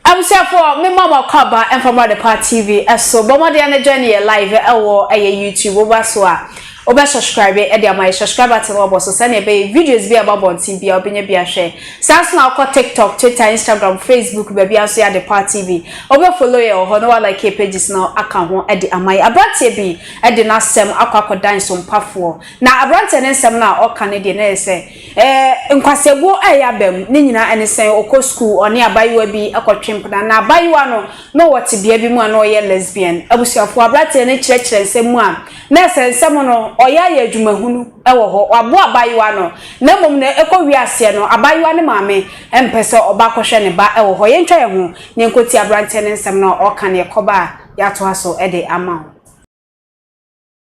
Abusuafo, mema mo akɔ aba mfa mmra Adepa TV so. Bɔ mmɔden na join yɛn live wɔ ɛyɛ YouTube. Woba so a, wobɛ subscribe de ama yɛn. Subscribe button no wabɔ so sɛnea ɛbɛyɛ videos bi a ɛba abɔnten biara wobɛnya bi ahwɛ. Saa nso na wokɔ TikTok, Twitter, Instagram, Facebook, baabiara nso yɛ Adepa TV. Wobɛ follow yɛn wɔ hɔ na wa like yɛn pages no aka ho de ama yɛn. Aberanteɛ bi de n'asɛm akɔ akɔdan sompafoɔ. Na aberanteɛ no nsɛm no a ɔka no deɛ na ɛyɛ sɛ Ɛɛ, Nkwasɛbuo a ɛyɛ aba mu no nyinaa ne sɛn? Ɔkɔ sukuu, ɔne abaayewa bi kɔtwe mpena, na abaayewa no, na ɔwɔ tebea bi mu a na ɔyɛ lesbian. Abusuafoɔ, aberanteɛ no kyerɛkyerɛ nsɛm mu a, na ɛsɛ nsɛm no, ɔyɛ ayɛ adwumahunu wɔ hɔ, waboa abaayewa no, na mmom no, ɛkɔwie aseɛ no, abaayewa no maame mpɛ sɛ ɔba kɔhwɛ ne ba wɔ hɔ. Yɛntwa yɛn ho na yɛnkɔtie aberanteɛ no nsɛm no a ɔreka no, yɛkɔba a, yɛatoa so de ama wo.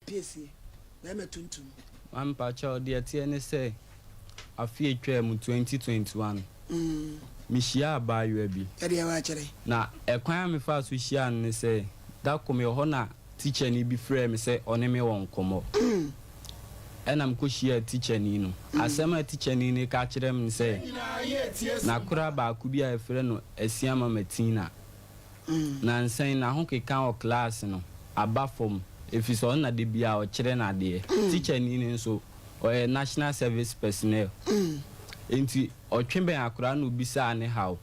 Piesie, bɛɛma tuntum. Maame mpakyɛw deɛ ɛteɛ ne sɛ afe a ɛtwaa mu twenty twenty one me hyiaa abaayewa bi na ɛkwan a me faa so hyiaa no ne sɛ da koro me wɔ hɔ na tikyani bi frɛɛ me sɛ ɔne me wɔ nkɔmmɔ ɛna me kɔ hyiaa tikyani no asɛm a tikyani no ka kyerɛ me ne sɛ nakora baako bi a yɛfrɛ no Asiamah Matina Nansa yi n'ahokeka wɔ klaase no aba fam efisɛ ɔno na da biara ɔkyerɛ no adeɛ. Tikyani no nso, ɔyɛ National Service Personnel. Enti ɔtwe bɛn akwadaa na obisaa ne haw.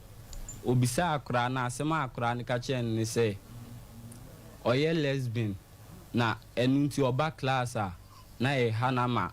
Obisaa akwadaa no a, asɛm a akwadaa no ka kyerɛɛ no ne sɛ, ɔyɛ lesbian na ɛno nti ɔba klaase a, na ɛreha no ama.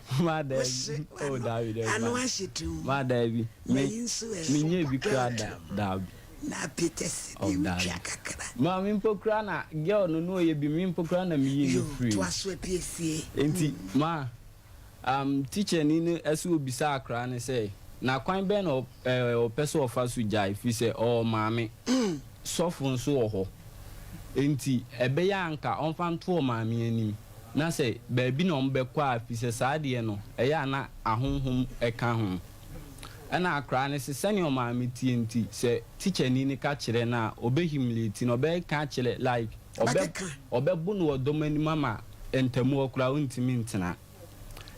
Ma da bi. Oh, da bi, da bi. Ano ahye tum. Ma da bi. Me, me nye bi kura da, da bi. Na Peter si oh, bi twa kakra. Ma me mpo kura na girl no no ye bi me mpo kura na me yi ne free. Yo, to aso apiesie. Enti, mm. ma, um, teacher ni no ɛso obisa akra ne sɛ, na kwan bɛn na ɔpɛ sɛ ɔfa so gyae firi sɛ ɔwɔ maame mm. sɔfo nso wɔ hɔ. Enti, ɛbɛyɛ anka ɔmfa nto maame anim. na sɛ baabi na wɔbɛkɔ a, firi sɛ saa deɛ no, ɛyɛ a na ahonhom ka ho. Ɛna akoraa no se, sɛdeɛ ɔmaame teɛ nti, sɛ tikyani no ka kyerɛ no a, ɔbɛ humiliate no, ɔbɛka akyerɛ, like, ɔbɛ, ɔbɛbo no wɔ dɔm anim ama ntamu hɔ koraa ɔntumi ntena.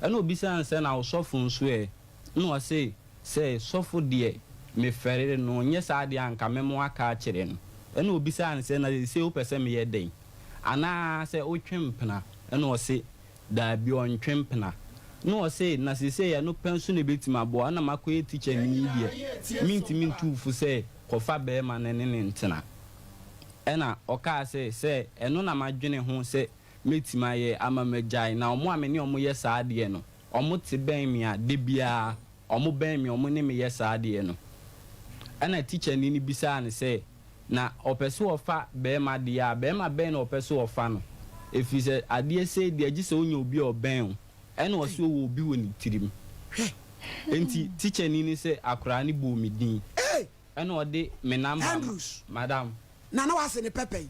Ɛna ɔbisaa no sɛ, na wo sɔfo nso ɛ? Ɛna ɔse, sɛ sɔfo deɛ, mefɛre no, nyɛ saa deɛ a, anka mɛma waka akyerɛ no. Ɛna ɔbisaa no sɛ, na seesei wopɛ sɛ meyɛ dɛn? Anaa sɛ wotwe mpena? Ɛna ɔse, Daabi, ɔntwe mpena. Na ɔse, Na seesei ɛno pɛ nso na ɛbɛtumi aboa wo? Ɛna makɔyɛ tikya mini yi deɛ, mentumi ntu wo fo sɛ kɔfa barima no ne no ntena. Ɛna ɔkaa sɛ, Sɛ ɛno na madwene ho sɛ mɛtumi ayɛ ama magyae, na wɔn a me ne wɔn yɛ saa adeɛ no, wɔte bɛn me a, da biara wɔbɛn me, wɔne me yɛ saa adeɛ no. Ɛna tikyani no bisaa no sɛ. Na ɔpɛ sɛ ɔfa barima deɛ a, barima bɛn na ɔpɛ sɛ ɔfa no? Ɛfiri sɛ adeɛ sei deɛ, gye sɛ wonya obi a ɔbɛn wo, ɛna ɔse ɔwɔ obi wɔ ne tirim. Enti tikyani no sɛ akoraa no bɔɔ me din, ɛna ɔde me namba ma, madam. Nana wase ne pɛpɛ yi.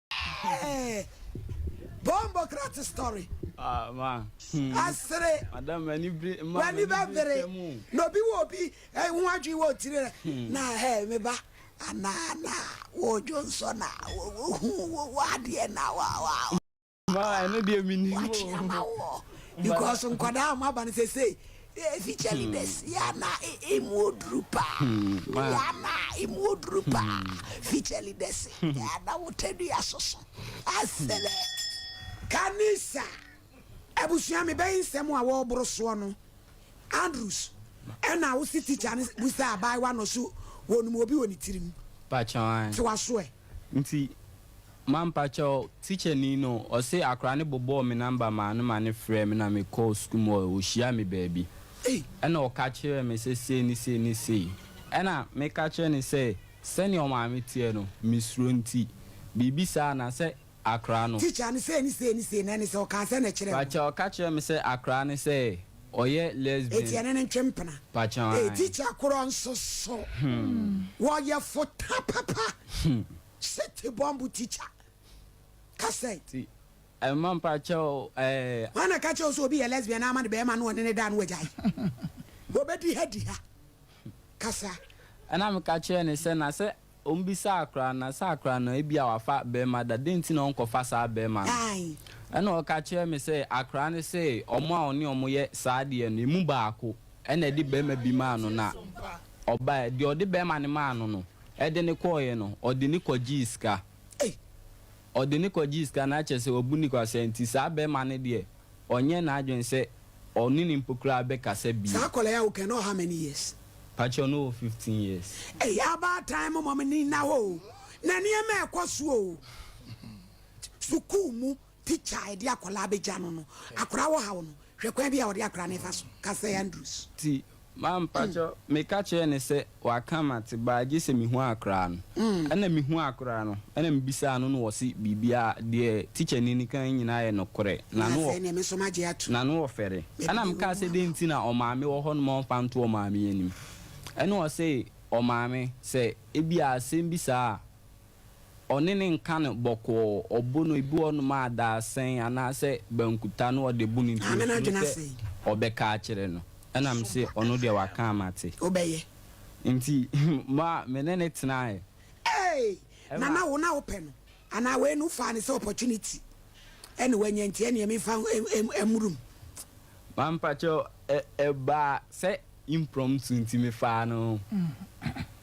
Hey, bombo krat story. Ah, ma. Hmm. Asere. Madam, mani bere, ma. Mani bere. No bi wo bi, eh, ho adwi wo tire. Hmm. Na hey, me ba. Ana na wo jonso na wo wo hu wo wade na wa wa. Ma, eno de mini mo. Because nkwada ma ba ne sesei. Efikyɛli dɛ sia na emu oduru paa, meyɛ ana a emu oduru paa, fikyɛli dɛ se ana wo tadua soso asɛlɛ. Kanisa abusua mebɛn nsɛm a wɔɔboro soɔ no Andrews ɛna wo se teacher no busa abaayewa no ɔse wɔnum obi wɔ ne tirim te waso ɛ. Ma mpakyɛw, tikyani no, ɔse akora no bobɔɔ me number maa no ma no frɛɛ me na me kɔɔ sukuu mu hɔ, ɔhyiaa me baabi ɛna ɔka kyerɛɛ me sɛ sei ne sei ne sei. Ɛna me ka kyerɛɛ no sɛ sɛnea ɔmaame teɛ no, me suro nti, biribi saa na sɛ akora no. Teacher no sei ne sei ne sei na ɛne sɛ ɔkaa sɛn na ɛkyerɛɛ wo? Pakyɛw, ɔka kyerɛɛ me sɛ akora no sɛ ɔyɛ lesbian. Eti ɛne no ntwe mpena? Pakyɛw, ae. Teacher korɔ nso so? Hmmm, wɔyɛ fota papa. Hmmm. City Bomb Teacher Cassette. Ti ɛma mpakyɛw ɛɛ. Wan na ɛka kyerɛ wo sɛ obi yɛ lesbian na ama ne bɛrima na ɔne ne da na wagyae? Wɔbɛdi ha di ha. Kasa. Ɛna meka kyerɛɛ no sɛ na sɛ ɔmmisa akora na sɛ akora no ebia wafa bɛrima da dɛn nti na ɔnkɔfa saa bɛrima no? Ae. Ɛna ɔka kyerɛɛ me sɛ akora no se wɔn a ɔne wɔn yɛ saa adeɛ no emu baako na ɛde bɛrima bi maa no na ɔbaeɛ deɛ ɔde bɛrima no maa no no. Ɛde no kɔeɛ no, ɔde no kɔgyee sika. Ei! Ɔde no kɔgyee sika na kyerɛ sɛ wabu no kwasea nti saa barima no deɛ ɔnyɛɛ n'adwene sɛ ɔne no mpo koraa bɛkasa bio. Saa akwadaa yi a woka yi na ɔwɔ how many years? Pakyɛ no wɔ fifteen years. Ɛyɛ abaatan momma m'ani nna hɔ o, na nneɛma ɛkɔ so o, sukuu mu. Tikya a yɛde akwadaa bɛgya no no, akwadaa wɔ haw no, hwɛ kwan bi a wɔde akwadaa no fa so ka sɛ Andrews. Nti ma mpakyɛ meka kyerɛɛ no sɛ waka ma te baa gye sɛ mehu akwadaa no. Ɛna mehu akwadaa no, ɛna mebisaa no na ɔse biribiara, deɛ tikyani no kae nyinaa yɛ nokorɛ. Na afei neɛ me nso magye ato. Na na ɔfɛre. Ɛna mekaa sɛ dɛn nti na ɔmaame wɔ hɔ no ma ɔmfa nto ɔmaame anim. Ɛna ɔse ɔmaame sɛ ebia asɛm bi saa a Ɔne no nka no bɔkɔɔ, ɔbo no, ebi wɔ hɔnom a daasɛn anaasɛ bankuta na ɔde bo no nti Maame no osuro adwene sɛ asa yi. ɔbɛka akyerɛ no. Ɛna Nso mise, ɔno deɛ ɔbɛka waka a mate. a wobɛyɛ. Nti ma me ne no tenaeɛ. Ei! Na Ɛma. na wo na wopɛ no anaa wei no wofaa no sɛ opportunity ɛna wanya nti ɛneɛ memfa mmoro mu. Ma mpakyɛw, ɛ, ɛbaa sɛ impromptu nti mefaa no.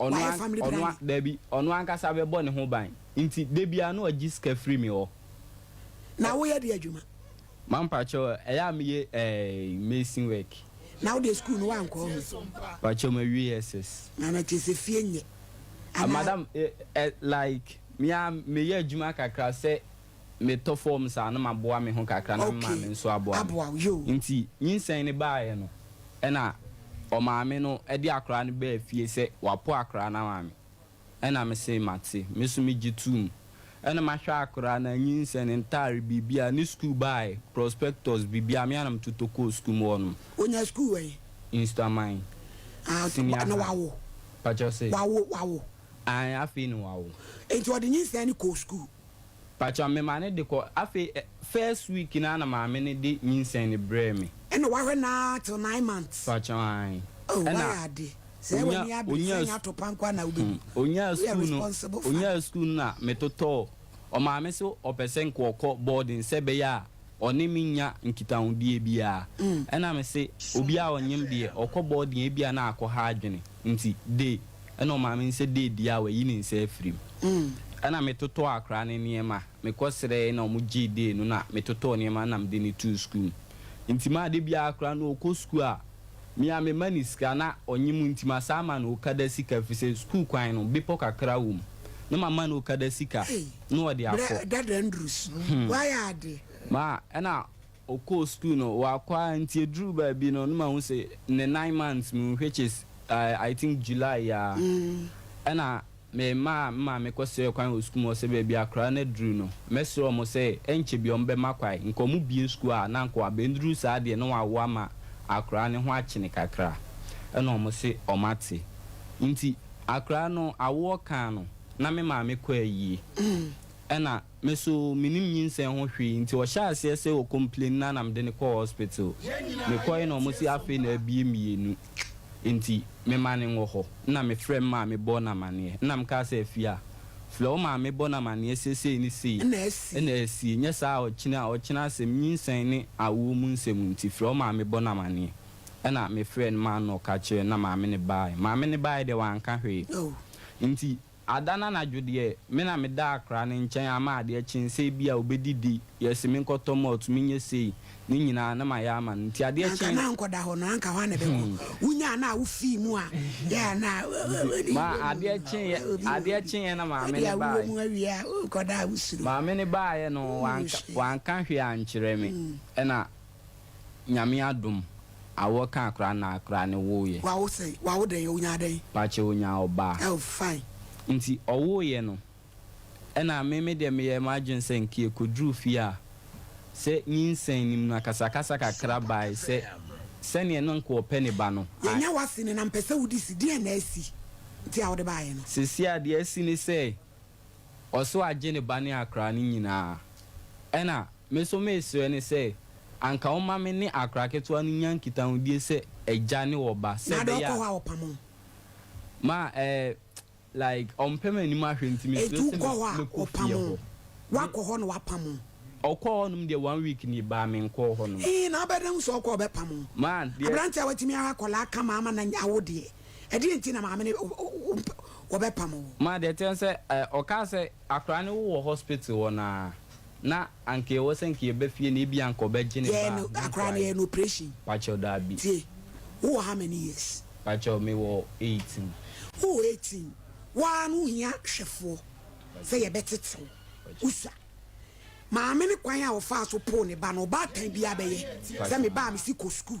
ɔno an, ɔno an, daabi, ɔno ankasa bɛbɔ ne ho ban. Nti, da biara na ɔgye sika firi me hɔ. Na woyɛ deɛ adwuma? Ma mpakyɛw, ɛyɛ a meyɛ eh, mason work. Na wodeɛ sukuu no woankɔ ho? Mpakyɛw, mawie SS. Na na kyerɛ sɛ fie nyɛ, anaa? Madam, eh, eh, like, me ara meyɛ adwuma kakra sɛ metɔ fɔm saa na maboa me ho kakra na me Okay, maame nso aboa me. aboa wo, yoo. Nti nyinsɛn no baeɛ no, ɛna ɔmaame no de akwadaa no baa fie sɛ wapo akwadaa no ama me. Ɛna me se mate, me nso megye toom. Ɛna mahwɛ akwadaa no, anyinsɛn, ne ntaare, biribiara, ne sukuu bag, prospectus, biribiara, me ara na metotɔ kɔɔ sukuu mu hɔnom. Ɔnyaa sukuu wɛn? Nsuaman, Ah, nti senior na high. wawo? Pakyɛ wo se? Wawo, wawo. Aane, afei na wawo. Nti ɔde nyinsɛn no kɔɔ sukuu? Pakyɛw me ma no de kɔ. Afei ɛ first week no ara na maame no de nyinsɛn no brɛɛ me. Ɛna w'ahwɛ no ara till nine months. Pakyɛw aane. Oh Ɛna w'ayɛ ade. Sɛ ɛyɛ w'ani abere, sɛ ɛnyɛ atopa nko ara na wobɛbu. Hmm. Onyaa Woyɛ sukuu no, responsible father. onyaa sukuu no na me totɔɔ. Ɔmaame se ɔpɛ sɛ nka ɔkɔ boarding sɛ ɛbɛyɛ a ɔne me nnya nkitahodie biara. Ɛna me se obiara a ɔnyem deɛ ɔkɔ boarding a ebia na akɔha adwene nti de. Ɛna ɔmaa me nsa dii adi a wayi ne nsa afiri mu. Ɛna metotɔɔ akwadaa no nneɛma, mekɔsrɛeɛ na wɔgyee dee no na metotɔɔ nneɛma no na mede no too sukuu mu. Nti ma da biara akwadaa no ɔkɔ sukuu a, me ara mema no sika na ɔnye mu nti masan ama no okada sika ɛfiri sɛ sukuu kwan no bepɔ kakra wɔ mu na mama no okada sika na ɔde akɔ. Hey, brɛ dada nduru sunu, hmm. wayɛ ade. Ma ɛna Ɔkɔɔ sukuu no, ɔakɔ ara ntsi eduruu beebi no nna mahu se ne nine months mu which is I think July a nna memaa me maame kɔserɛɛ kwan wɔ sukuu mu ɔse beebi a koraa no eduru no mɛserɛ wɔn se nkyɛ bi wɔbɛma kwan nka wɔbue sukuu a na nka ɔabenduru saa deɛ na wɔawo ama akoraa no ho akyene kakra nna wɔn se wɔate ntsi akoraa no awoɔ kaa no na me maame kɔ ayie nna Me so menim nyinsɛn ho hwee nti ɔhyɛɛ aseɛ sɛ ɔ complain na na mede no kɔɔ hospital. Mekɔe na ɔmo se afei na abue mmienu nti me ma no nwɔ hɔ. Nna me frɛ me maame bɔɔ no amaneɛ. Nna me kaa sɛ Afia, frɛ wo maame bɔ no amaneɛ sɛ sei ne sei na asie nyɛ saa a ɔkyena a ɔkyena asɛm nyinsɛn ne awoɔ mu nsɛm nti frɛ wo maame bɔ no amaneɛ. Ɛna me frɛɛ no maa no na ɔka kyerɛɛ no na maame no baaɛ. Maame no baaɛ deɛ wanka hwee nti Ada no anadwo deɛ, me na meda akora no nkyɛn ama adeɛ kye sɛ ebia ɔbɛdidi, yɛse menkɔtɔ malt, menyɛ sei, ne nyinaa na mayɛ ama no. Nti adeɛ Anka kye. na ankɔda hɔ no, anka hwan na ɛbɛkɔ? Wonyaa no a, wofii mu a, yɛ a na Ma adeɛ kyeeɛ, obi wɔ adeɛ hɔ bi. kyeeɛ na maame Ebia no wowɔ baeɛ. mu awie a, wokɔda a, wosuro. Maame no baeɛ no, Woo, wanka, hwee. wanka hwee ankyerɛ me. Ɛna Nyame adom a wo kaa koraa na koraa ne woo yɛ. Wawo sɛn? Wawo dɛn? Onyaa dɛn? Pakyɛ onyaa ɔbaa. Oh fine. Nti ɔwoo yɛ no ɛna me me deɛ me yɛɛ m'adwene sɛ nka yɛ kɔduruu fie a sɛ nyinsɛn nim no akasa kasa kakra baae sɛ sɛdeɛ na nka ɔpɛ ne ba no I. Yɛnya w'ase no na mpɛ sɛ wo di si, deɛn na asi nti a wode baaeɛ no? Seesei a deɛ asi ne sɛ Ɔso agye ne ba ne akra no nyinaa. Ɛna me nso meresrɛ no sɛ anka ɔmma me ne akra ketewa no nya nkitahodie sɛ agya ne ɔba sɛ ɛbɛyɛ a ma eh like ɔmpɛ m'anim ahwɛ nti mesrɛ sɛ mɛkɔ fie hɔ. Wakɔ hɔ na wapam wo? Ɔkɔɔ hɔnom deɛ one week ni baa menkɔɔ hɔnom. Ee na wobɛdɛn hu sɛ ɔkɔ a ɔbɛpam wo? Aberanteɛ a watumi awo akwadaa kama ama no awo deɛ Ɛdeɛn nti na maame no wɔbɛpam wo? Ma deɛ ɛteɛ ne sɛ ɔkaa sɛ akwadaa no wowɔ hospital hɔ no ara na anka ɛwɔ sɛ anka yɛba fie no ebia anka ɔbɛgye ne ba a ne nkwadaa yi. Pakyɛw daabi. Tie, wowɔ how many years? Pakyɛw mewɔ eighteen. Wowɔ eighteen, woaa no wohia hwɛfoɔ sɛ yɛbɛtete wo. Wosua. Maame no kwan a ɔfaa so poo ne ba no ɔbaatan biara bɛyɛ sɛ me ba a mesi kɔ sukuu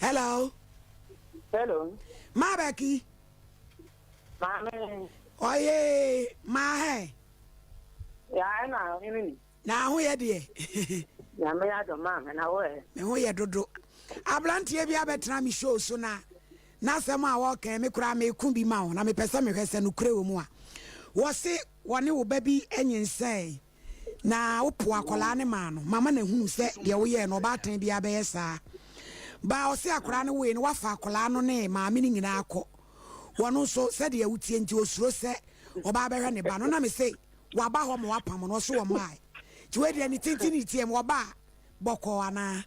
hello. hello. maa bɛ ki. maame. ɔye maa hɛ. yaa ɛna ɔhene ni. na ho yɛ deɛ. nyame yɛ adɔ maa na wo ɛ. me ho yɛ dodo. aberanteɛ bi abɛtena me show so na n'asɛm a wɔkɛn me koraa meko bi ma wo na mepɛ sɛ mehwɛ sɛ nokorɛ wɔ mu a wɔse wɔne wo ba bi nyinsɛn Na wopoo akwadaa no maa no. Mama no ahunu sɛ deɛ woyɛɛ no, ɔbaatan biara bɛyɛ saa. Baa ɔse akwadaa no woe no, wafa akwadaa no ne maame no nyinaa akɔ. Wɔn nso, sɛdeɛ wotie nti, wɔsuro sɛ ɔbaa bɛhwɛ ne ba no. Na mese, Waba hɔ ma wapam no? Ɔse wɔmmae. Nti wei deɛ ne tenten ne ne tiam, wɔbaa bɔkɔɔ anaa?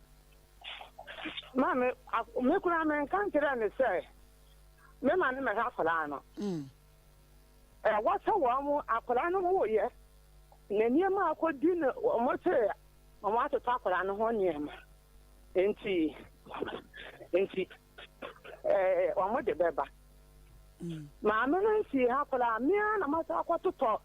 Maame, me koraa menka nkyerɛɛ no sɛ mema no mmɛhwɛ akwadaa no. a wɔahyɛ wɔn akwadaa no wooyɛ, na nneɛma a akɔdi no wɔkyeree ma wɔatotɔ akwadaa no ho nneɛma nti nti wɔde bɛba. Mm. Maame no nsii ha koraa, mmea na masa akɔtotɔ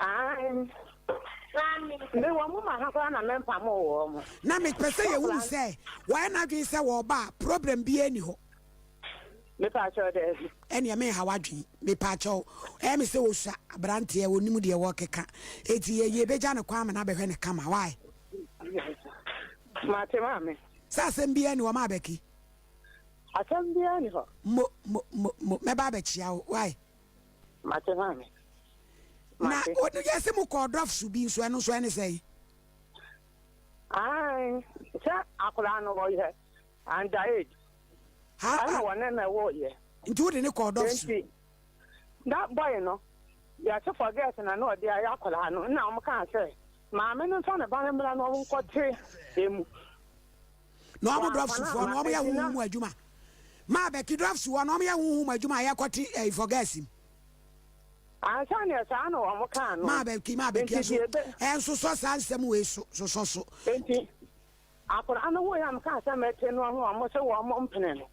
Aane, na me wɔ mo ma ha koraa na mɛmpamo wɔɔ mo. Na me pɛ sɛ yɛ hunu sɛ wɔayɛ no adwene sɛ wɔɔba a problem biaa nni hɔ. Me paakyɛw daabi. Ɛneɛ menha w'adwene me paakyɛw ɛyɛ me sɛ wɔsua abranteɛ ɔnim deɛ wɔɔkeka eti yɛ yɛ bɛgya no kwan ma no abɛhwɛ no kama why. Mate maame. Sɛ asɛm biaa nni hɔ ma abɛke. Asɛm biaa nni hɔ. Mo mo mo mo mɛba abɛkyea wo why. Mate maame. Na Mate. o yɛ se mo kɔɔ dɔf so bi nso ɛno nso ɛne sɛn? Ae, sɛ akwadaa no ɔyɛ under age. Ha Ɛna a, wɔne no woeɛ. nti wode ne kɔɔ dɔf so? Enti, na boy no, deɛ ɔte forget na na ɔde ayɛ akwadaa no, na wɔkaa sɛ maame no mfa ne ba no mmra na wɔnkɔte emu. na wɔn drɔfsfoɔ no wɔyɛ honhom mu adwuma ma abɛki drɔfsfoɔ no wɔyɛ honhom mu adwuma a yɛkɔte ɛyi fɔ gas mu. Ansa na saa na wɔn kaa no. Maa bɛki maa bɛki ɛso ɛnsosɔ saa nsɛm wei so sosɔ so. Nti akwadaa no ho yam kaa sɛ mɛte no ho wɔn sɛ wɔn mpene no.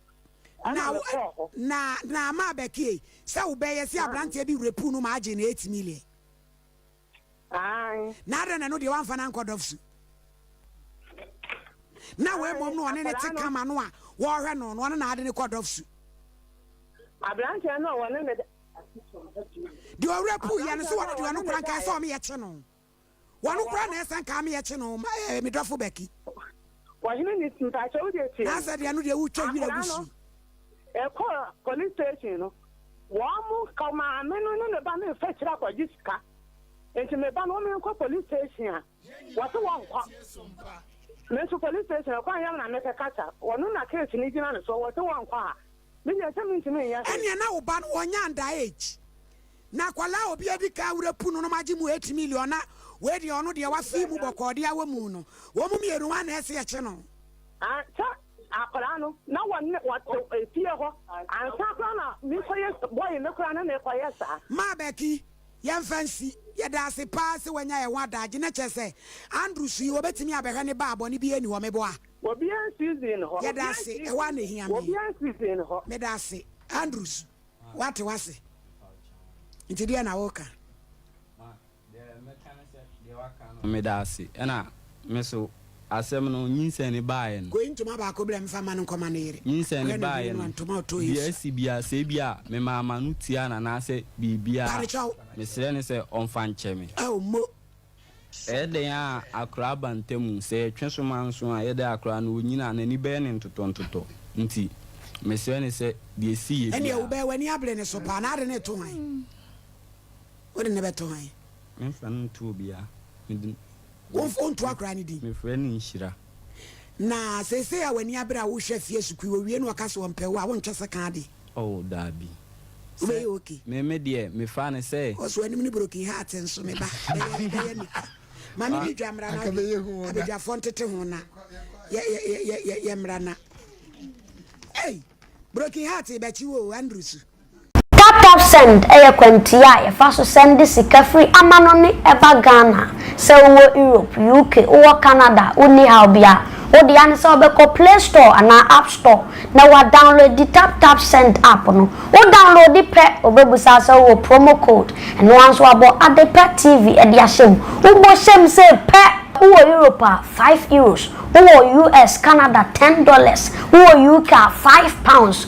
Na na na maa bɛki sɛ wobɛyɛ sɛ aberanteɛ bi repu no maa gye no eight million. Aane. Na adɛn na ɛno deɛ wamfa no ankɔ dɔfsu? Na wei mmom no ɔne ne te kama no a wɔrehwɛ no no ɔno na ade ne kɔ dɔfsu. Aberanteɛ no a wɔne ne. Deɛ ɔwerɛ puu yɛ no so wɔne deɛ ɔno kora nkae sɛ ɔmeyɛ kye no wɔno kora na ɛsɛ nkae meyɛ kye no ma ɛɛ me dɔfo Becky. Ɔhene ni mpakyɛ wo deɛ tie me. N'asɛ deɛ no deɛ wo twa wira gu si. Ɛkɔ police station no wɔn mo ka maame no ne ne ba no nfa akyire akɔ gye sika nti me ba no wɔn nkɔ police station a wɔte wɔn nkɔ me nso police station ɛkwan yam na mɛkɛ kasa wɔn na case no gyina ne so wɔte wɔn nkɔ a Me deɛ sɛ mentumi nyɛ hwee. Ɛneɛ na wo ba no ɔnyɛ under age na akwadaa a obi adi kan awura pu no nom agye mu eight million na wei deɛ ɔno deɛ wafii mu bɔkɔɔ deɛ awɔ mu no wɔn mu mmienu hwan na ɛse ɛkye no. Ah sɛ akwadaa no na wɔne wɔte efie hɔ ansa koraa na mekɔyɛ boy no koraa na mekɔyɛ saa. Maa Becky yɛmfa nsi. Yɛdaase paa sɛ wanya yɛn ho adaagye na kyerɛ sɛ Andrew su yi ɔbɛtumi abɛhwɛ ne ba a bɔne biara nni hɔ meboa. Obiara nsi dzin no hɔ. Yɛda ase, ɛhɔ ara na ehia me. Obiara nsi dzin no hɔ. Meda ase. Andrews, wɔate wo ase. Nti deɛn na woreka? Ma, deɛ mɛka ne sɛ, deɛ waka no. Meda ase. Ɛna me so, asɛm no, nyinsɛn no baeɛ no. Kɔyi ntoma baako brɛ me mfa mma no nkɔma ne yere. Nyinsɛn no baeɛ no, deɛ asi biara, sɛ ebia memaa m'ano tuaa no anaasɛ biribiara a, mesrɛ no sɛ ɔmfa nkyɛ me. Ao, mmo, Ɛyɛ dɛn a akora ba ntamu? Sɛ yɛtwe soma nso a, ɛyɛ dɛn a akora no onyin a n'ani bɛyɛ ne ntotɔntotɔ nti? Mesrɛ ne sɛ, deɛ ɛsi yɛ Ɛnneɛ, biara. wobɛyɛ w'ani abere ne so paa, na wode no reto hwan? Wode no bɛto hwan? Memfa no nto obiara. Mede. Womfa nto akora no din. Mefrɛ no nhyira. Na seesei a w'ani abere a worehwɛ afie sukuu, wowie na wɔka sɛ wɔmpɛ wo a, wonntwa sɛ ka ade? Oh, daabi. Sɛ, Wobɛyɛ ok? me, me deɛ, mefaa no sɛ. Ɔso anim ne broken heart nso, me ba, bɛyɛ, bɛyɛ nika. Ma me ne dwa mmra na ade, abadwafoɔ ntete ho na yɛ, yɛ, yɛ, yɛ, yɛ, yɛmmra na. Ei! Broken heart rebɛkye wo o, Andrew su. Taptapsend yɛ kwantia a yɛfa so sɛnde sika firi amanɔne ba Ghana. Sɛ wowɔ Europe, UK, wowɔ Canada a, wonni haw biara. Wo dea ne sɛ wobɛkɔ Play Store anaa App Store na woadownloadi Taptapsend app no. Wo downloadi pɛ, wɔbɛbisa wo sɛ wowɔ promo code. Ɛno ara nso wɔabɔ Adepa TV de ahyɛ mu. Wobɔ hyɛ mu sei pɛ! Wowɔ Europe a, five Euros. Wowɔ US, Canada, ten dollars. Wowɔ UK a, five pounds.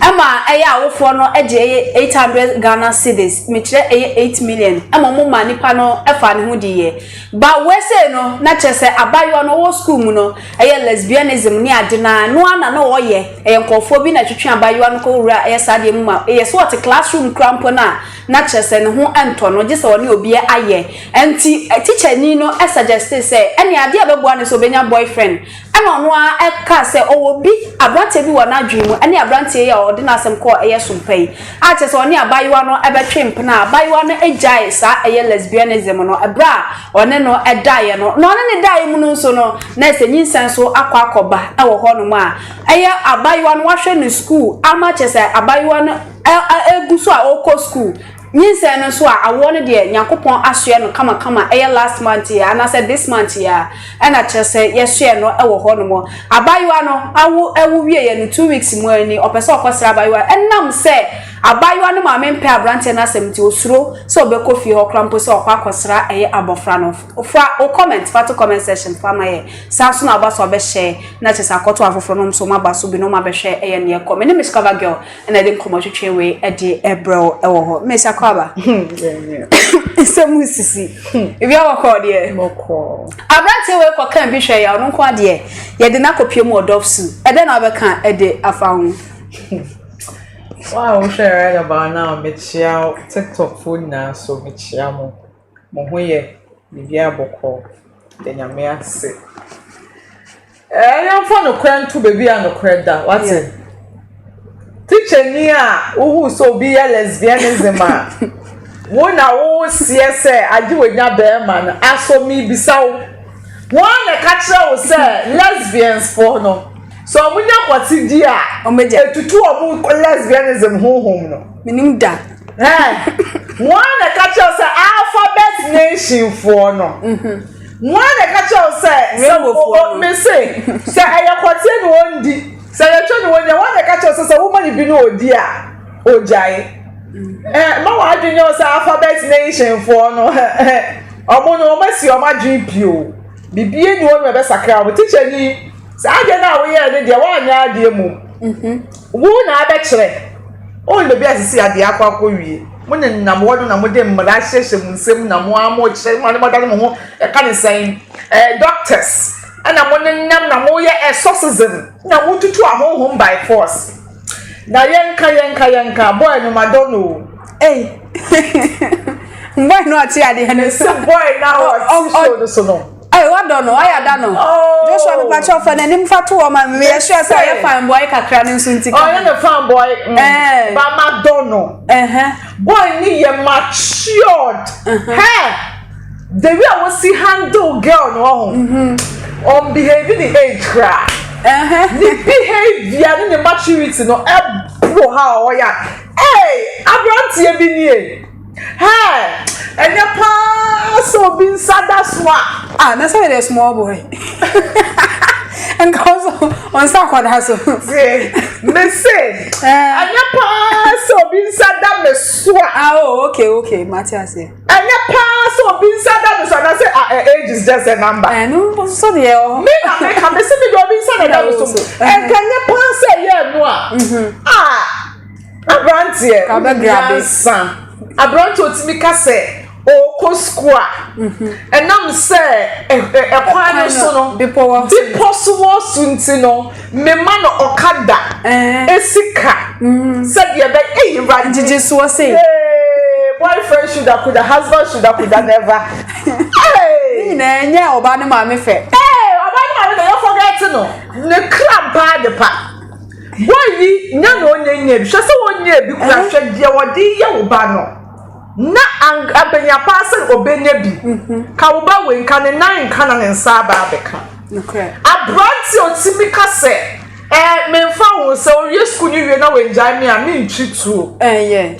Ɛma ɛyɛ a awofoɔ no gye ɛyɛ eight hundred Ghana cedis, mekyerɛ ɛyɛ eight million, ɛma wɔn maa nipa no faa ne ho diiɛ. But wei sei no, na kyerɛ sɛ abaayewa no ɔwɔ school mu no, ɛyɛ lesbianism ne ade no ara, ɛno ara na na ɔyɛ, ɛyɛ nkorɔfoɔ bi na ɛtwetwe abaayewa no kɔ wura ɛyɛ saa adeɛ mu ma, ɛyɛ sɛ ɔte class room koraa mpo no a, na kyerɛ sɛ ne ho ntɔ no, gye sɛ ɔne obi ayɛ. Ɛnti, teacher ni no suggestee sɛ, ɛnneɛ adeɛ a ɛbɛboa no sɛ ɔbɛnya boyfriend, Ɛnna ɔno ara kaa sɛ ɔwɔ bi, aberanteɛ bi wɔ n'adwene mu, ɛne aberanteɛ yi a ɔde n'asɛm kɔɔ ɛyɛ so mpa yi, a kyerɛ sɛ ɔne abaayewa no bɛtwe mpena, a abaayewa no gyaee saa ɛyɛ lesbianism no berɛ a ɔne no daeɛ no, na ɔne no daeɛ mu no nso no, na ɛsɛ nyinsɛn nso akɔ akɔba wɔ hɔnom a ɛyɛ abaayewa no wahwɛ no sukuu ama kyerɛ sɛ abaayewa no ɛ, ɛ, ɛgu so a ɔrekɔ sukuu. Nyinsɛn no nso a, awoɔ no deɛ Nyankopɔn asoɛ no kamakama ɛyɛ last month yi anaasɛ this month yi ara ɛna kyerɛ sɛ yɛsoɛ no wɔ hɔ nom. Abaayewa no awo ɛwo wieɛ no two weeks mu ara ni ɔpɛ sɛ ɔkɔ sra abaayewa no ɛnam sɛ abaayewa no maame mpɛ abranteɛ no asɛm nti osuro sɛ ɔbɛkɔ fie hɔ koraa mpo sɛ ɔkɔ akɔ sra ɛyɛ abɔfra no. Fa wo comment fa to comment section fa ma yɛn. Saa nso na woba so abɛhyɛ na kyerɛ sɛ akɔto afoforɔ nom nso wɔn aba so binom abɛhwɛ ɛyɛ neɛ ɛkɔ. Mene Mishkava girl. ɛna ɛde nkɔmɔ twetwe wei ɛde ɛbrɛ wo ɛwɔ hɔ mmɛ sa kɔ aba nsɛm mu sisi ebi awɔ kɔ deɛ aberante wei kɔ kan bi hwɛ ya ɔno nko adeɛ yɛde no akɔpie mu ɔdɔf su ɛdɛ na wobɛka ɛde afa ho Wow, wohwɛ right about now mekyia tiktok fo nyinaa so mekyia mo Mo ho yɛ? Biribiara bɔkɔɔ. Yɛda Nyame ase. Ɛɛ yɛmfa nokorɛ nto baabi a nokorɛ da. Wate? Tikyani a wohu sɛ obi yɛ lesbianism a, wo na woseɛ sɛ agye w'anya bɛrima no. Aso mebisa wo, wɔn na ɛka kyerɛ wo sɛ lesbians foɔ no, sɛ wɔnya kɔte di a, ɛtutu wɔn lesbianism honhom no? Menim da. Hɛn, woana na ɛka kyerɛ wo sɛ alphabet nation foɔ no? Woana na ɛka kyerɛ wo sɛ, sɛ wo, mese, sɛ ɛyɛ kɔteɛ na ɔndi, sɛ ɛyɛ twɛ na ɔnya, woana na ɛka kyerɛ wo sɛ sɛ woma no bi na ɔdi a, ɔgyae? Hɛn, mma w'adwene nyɛ wo sɛ alphabet nation foɔ no, hɛn, wɔn no, wɔasi wɔn adwene pi o. Biribiara nni hɔ nom a ɛbɛsakra wɔn. Tikyani, saa adeɛ no a woyɛɛ no deɛ, woanyɛ adeɛ mmom. Wo na abɛkyerɛ. Ɔnn baabi a sisi adeɛ akɔ akɔwie. Mo nenam hɔ no na mode mmara hyehyɛ mo nsam mu na mo ara mokyerɛ mo adane mo ho yɛka ne sɛn ɛɛ doctors ɛna mo nenam na moyɛ exorcism na motutu ahonhom by force. Na yɛnka yɛnka yɛnka boy no madɔ no o. Ei boy no ɔte adeɛ no. Mese boy no a ɔte show no so no. Ɛy wadɔ no wayɛ ada no. Oh. Joshua mi pakyɛ ɔfɛ n'anim fa to wɔn ma mi yɛ sure sɛ ɔyɛ fine boy kakra ne nso nti ka. Ɔyɛ ne fine boy. Mm. Eh. Ba ma dɔ no. Ɛhɛn. Boy ni yɛ matured. Hɛ the way a wosi handle girl no ɔho. Mm-hmm. Ɔn behave ne age kra. Ɛhɛn. Ne behavior ne ne maturity no ɛboro ha ɔyɛ. Ɛy aberanteɛ bi nie. Hey! Ɛnyɛ paa sɛ obi nsa da so a. Ah, na sɛ yɛyɛ small boy. Nka ɔsɔ ɔnsa akɔda so. Me se, eh. ɛnyɛ paa sɛ obi nsa da me so a. Ah, oh, okay, okay, mate ase. Ɛnyɛ paa sɛ obi nsa da me so na sɛ ah, eh, age is just a number. Eh, no, ɔsɔ deɛ ɔ. Me na me ka, me se me de obi nsa na da me so. Ɛnka eh, ɛnyɛ paa sɛ ɛyɛ ɛno a. Mm-hmm. Ah. aberanteɛ nyansa aberanteɛ otumi ka sɛ ɔkɔ sukuu a mhm. ɛnam sɛ ɛkwan no so no bepɔ so wɔ so nti no mema no ɔkada esika mhm. sɛdeɛ bɛ eyi ba gyegye soɔ sɛ boyfriend sugar kuda husband sugar kuda never. nyinaa nyɛ ɔbaa ne maame fɛ. ɔbaa ne maame fɛ yɛ fɔ gɛɛti no ne kra baa de pa. Woayi, nya na ɔnnya nnya bi. Hwɛ sɛ wonnya bi koraa. Hwɛ deɛ wɔde reyɛ wo ba no. Na ang abanya paa sɛ ɔbɛnya bi. Ka wo ba wei, nka ne nan nka na ne nsa aba abɛka. Aberanteɛ a ɔtumi ka sɛ, Ɛɛ, memfa ho sɛ ɔrewie sukuu no wie na wangyae me a, mentwi tuo. Ɛɛ,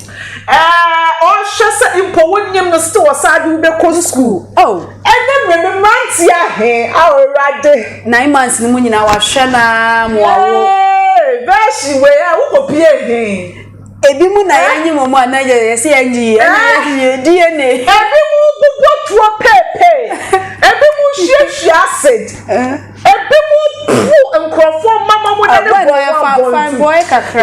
ɔrehwɛ sɛ mpo wonnim no still ɔsan de wo bɛkɔ sukuu. Ɛnɛ mmerɛ no mmeranteɛ ahe a Awurade. Nine months no mu nyinaa wahwɛ no ara mo awo. Ee verse wei a wokɔ pie he. Ebi mu na yɛnye mo mu a na yɛ yɛsɛ yɛnye yi ɛna yɛyɛ DNA. Ebi mu bobɔ tuo peepee, ebi mu hyiahyia acid, ebi mu pu nkurɔfoɔ mma ma mo dane bɔ wɔn abɔntu.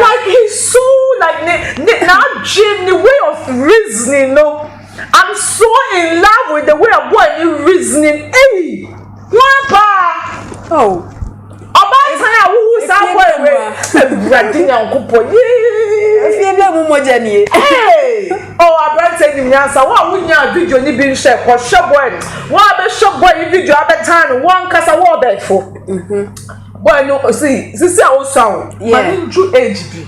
Like he's so like ne ne n'adwene ne way of reasoning no. I'm so in love with the way a boy ni reasoning eyi wọn paa oh ɔbaatan a wohu saa boy wɛ awurade nyankopɔ yee efie bɛɛ mu mogya nie ee ɔ aberante nim nyansa wɔn a wonya video ni bi nhwɛ kɔhwɛ boy wɔn a bɛhwɛ boy yi video abɛtan no wɔn nkasa wɔn ɔbɛɛfo boy no si sisi a wosua wo ma ne nju age bi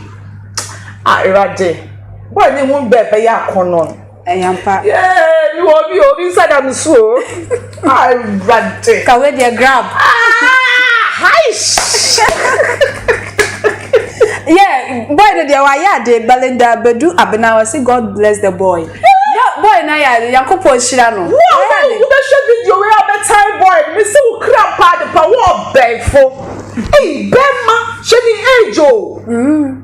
a awurade. Bɔ ne ho bɛ bɛyɛ akɔnnɔ no. Ɛyɛ ampa. Yee, mi wɔ obi o, obi nsa da mi so o. Ah, Awurade. Kawe deɛ grab. Ah, aish. Yeah, boy no deɛ wayɛ ade Belinda Badu Abena wɔsi God bless the boy. Boy na yɛ ade, Nyankopɔn nhyira no. Wo a wobɛhwɛ video wei a bɛtae boy no, mese wo kra paa de pa, wo ɔbɛɛfo. Ei, bɛɛma, hwɛ ne age o. Mm.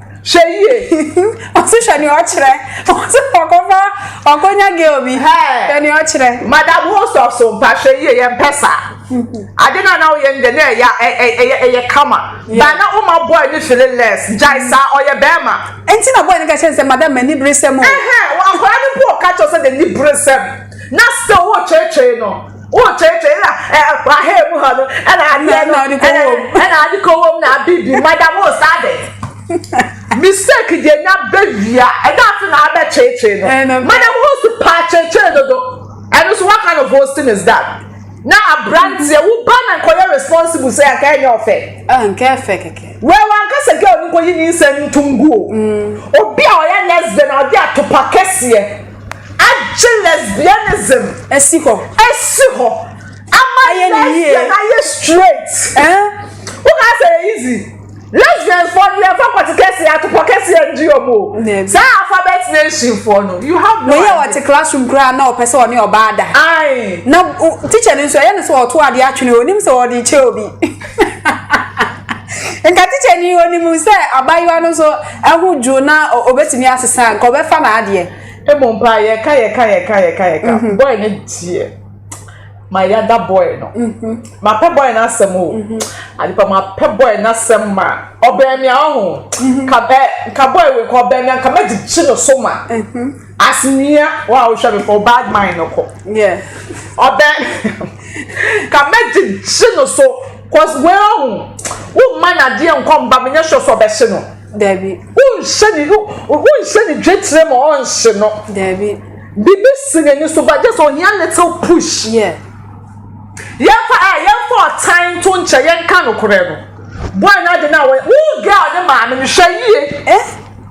Hwɛ yie. Ɔsi hwɛ nea ɔkyerɛ. Ɔsi ɔkɔfa ɔkɔnya girl bi. Hwɛ nea ɔkyerɛ. Madam host of so mpa hwɛ yie yɛn pɛ sa. Mm-hmm. Ade na na ɔyɛ ndɛ na ɛyɛ ɛyɛ ɛyɛ kama. Ba na ɔma boy ni feeling less. Gyae mm-hmm. sa ɔyɛ bɛɛma. Ɛnti na boy ni ka kyerɛ sɛ madam mɛ ni bere sɛm o. Ɛhɛn akɔla ni po ɔka kyerɛ sɛ de ni bere sɛm na sɛ ɔwɔ kyerɛkyerɛ no. wotetee na ahɛɛ mu hɔ no ɛna adeɛ no ɛna ade kɔ wɔm na abibi madam o saa de mistake deɛ nya bɛwia ɛda ase na abɛkyeekyee no madam o si paa kyeekyee dodo ɛno so what kind of boasting is that na aberanteɛ wo ba na nkɔyɛ responsible sɛ anka ɛnyɛ ɔfɛ anka ɛfɛ kɛkɛ wɛɛ wankasa gɛ ɔno nkɔyi ne nsɛm ntonguo obi a ɔyɛ lesbian a ɔde atopa kɛseɛ Agye lesbianism. Asi hɔ. Asi hɔ. Ama lesbian ayɛ straight. Woka sɛ yɛ easy. Lesbians fɔ no yɛn fa kɔte kɛseɛ atopɔ kɛseɛ di wɔn o. Saa alphabet nation fɔ no you have no idea. Wɔyɛ wɔte classroom koraa na ɔpɛ sɛ ɔne ɔbaa da. Ayi. Na teacher no nso ɛyɛ no sɛ ɔto adeɛ atwene onim sɛ ɔde kyɛ obi. Nka teacher ni onim sɛ abayewa no so. Ho dwuo na ɔbɛtumi asesa nka ɔbɛfa n'adeɛ. Ɛbɔ mpa a yɛka yɛka yɛka yɛka yɛka mhm. bɔɔl no gyeɛ ma yɛada bɔɔl no mhm. mapɛ bɔɔl no asɛm o mhm. adepa mapɛ bɔɔl no asɛm ma ɔbɛn mi ahɔ ho ka bɔɔl wei kɔ ɔbɛn mi anka mɛgyegye no so ma. Asenia wa wo hwɛ me for bad mind no kɔ. Yeah. Ɔbɛ ka mɛ gyegye no so cause wei ɔho wo mma na deɛ nkɔ mba menyɛ sure sɛ ɔbɛhye no. Dabi. Wo nhyɛ ne wo nhyɛ ne dwetire ma ɔnhye no. Dabi. Bibi si n'ani so ba just ohia little push. Yeah. Yɛmfa ɛ yɛmfa ɔtan nto nkyɛ yɛnka nokorɛ no. Boy no ade no a wɔyɛ wo girl ne maame no hwɛ yie. Eh?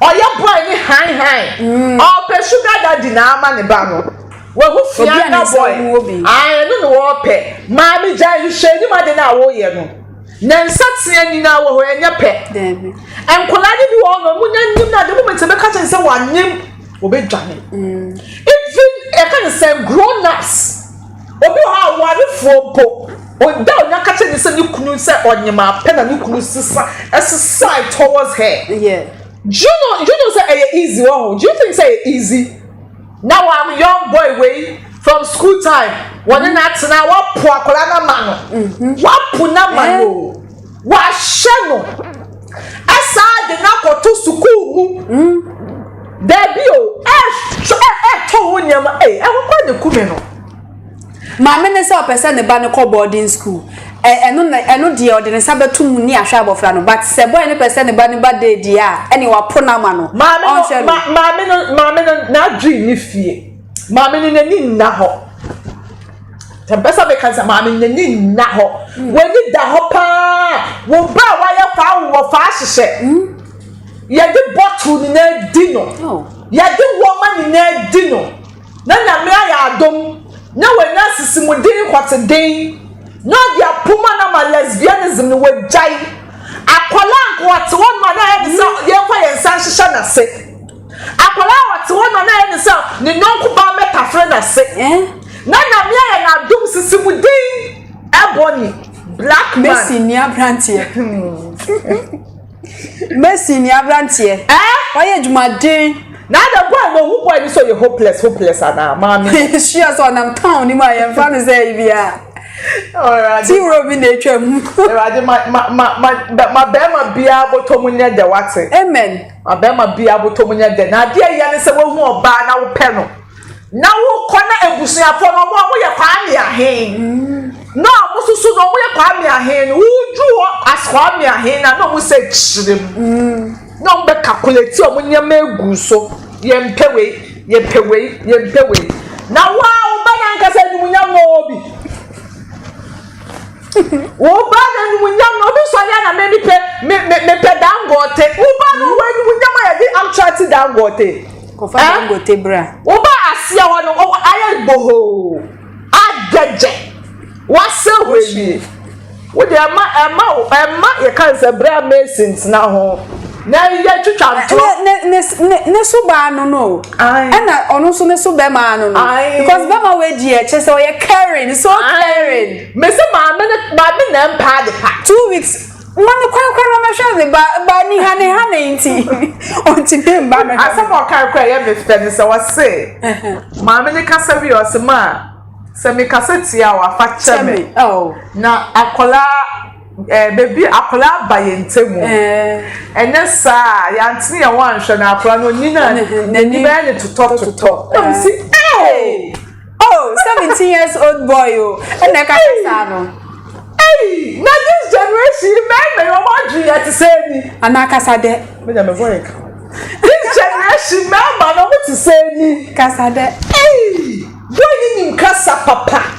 Ɔyɛ boy ne hann hann. Ɔpɛ sugar daddy na ama ne ba no. Wahu Fianga boy. Aah ɛno na ɔpɛ. Maame gyae no hyɛ anim ade no a woyɛ no. Ne nsa tea nyinaa wɔ hɔ ɛnyɛ pɛ. Nkwadaa no bi wɔ hɔ no ɔmo nya nim no ade moment a ɛbɛka kyerɛ no sɛ wanim wɔbɛdwane even ɛka ne sɛ grown ups obi wɔ hɔ a warefoɔ mpo ɔda onya ka kyerɛ ne sɛ ne kunu sɛ ɔnyema pɛ na ne kunu sesa ɛsesae towards her yeah. do you know do you know sɛ ɛyɛ easy wɔ ho do you think sɛ ɛyɛ easy na wa young boy wei from school time wɔne na atena wapo akwadaa na ma no mm-hmm. wapo na ma no. Eh? Wɔahyɛ no asan de no akɔto sukuu mu. Dabi o, ɛretɔ ho nneɛma. Ei, ɛho kora ne kume no. Maame no sɛ ɔpɛ sɛ ne ba no kɔ boarding school. Ɛno na ɛno deɛ ɔde ne nsa bɛto mu ne ahwɛ abɔfra no. But sɛ boy no pɛ sɛ ne ba no ba day deɛ a, ɛne wapo no ama no. Ɔnhwɛ no. Maame no, maame no, n'adwene ni fie. Maame no n'ani nna hɔ. Mempɛ sɛ meka sɛ maame no n'ani nna hɔ. W'ani da hɔ paa. Wo ba a wayɛ faa wo wɔ faa hyehyɛ. Yɛde bottle nyinaa di no. Yɛde wɔma nyinaa di no. Na Nyame ayɛ adom na wanya asisimude nhɔteden na ɔde apoma no ama lesbianism no wagyae. Akwadaa nko ɔte hɔ nom a na ayɛ ne sɛ yɛmfa yɛn nsa nhyehyɛ n'ase. Akwadaa a ɔte hɔ na ɔyɛ ne sɛ ne yɔnko ba mɛtafere n'ase na Nyame ayɛ no adom sisi mu din Ebony black man. Mesi ni abranteɛ. Mesi ni abranteɛ. Ɛɛ. Ɔyɛ adwumaden. Na ada boy na ohu boy ni so yɛ hopeless hopeless ana maame. Sure so nam town ni mu a yɛn fa no sɛ ibi a. Ti wuro bi na etwa mu. Ewurade ma ma ma ma ma bɛrima biara bɔtɔ mu nyɛ dɛ wate. Amen. Ɔbarima bi abotɔ mu nyɛ dɛ, na adeɛ a ɛyɛ ne sɛ woahu ɔbaa na wopɛ no, na wokɔ na abusuafoɔ no wɔn a wɔyɛ Kwame ahe na wɔn nso so na wɔyɛ Kwame ahe no, wodu hɔ as Kwame ahe na na wɔn sɛ kyerɛ mu na wɔn bɛ calculate wɔn nneɛma egu so, yɛmpɛ wei, yɛpɛ wei, yɛmpɛ wei, na wo a wo ba no ankasa animuonyam na ɔwɔ bi. Wo ba no animuonyam no, obi sɔre a na me mepɛ me me mepɛ dangote. Wo ba no wɔ animuonyam a yɛde amtra ti dangote. Kɔfa eh? dangote bra. Wo ba aseɛ hɔ no ɔwɔ ayɛ bohoo adɛgyɛ wasɛ hɔ awie. Wo deɛ ɛma ɛma ɛma yɛka nsɛ bra mason tena ho. Na yɛ twitwa ntorɔ. Ne ne ne ne so baa no no. Ɛna ɔno nso ne so bɛma ano no. Because bɛma wei di ɛkyɛ sɛ ɔyɛ caring so caring. Mesi maame ne maame na mpaa de pa. Two weeks ma no kwan kwan ma mɛhwɛ ne ba ba ni ha ne ha ne nti ɔnti ne mba mɛhwɛ. Asɛm ɔkan kora yɛ me fɛ ne sɛ ɔse maame ne kasa wi ɔse ma sɛ me kasa tia wafa kyɛ me oh. na akɔla. Eh baby akwadaa aba yɛn ntamu ɛnyɛ saa a yɛantene yɛn ho anhwɛ na akwadaa no onyin a n'ani bɛyɛ ne totɔtotɔ na mo si ee oh seventeen years old boy o ɛna ɛka kɛ saa no ei na this generation yi mɛɛmɛ yɛ ɔmo adwi yɛ te sɛ ni anaa kasa dɛ mɛgya mɛ voice ka this generation mɛɛma na ɔmo te sɛ ni kasa dɛ ei boy ni nim kasa papa.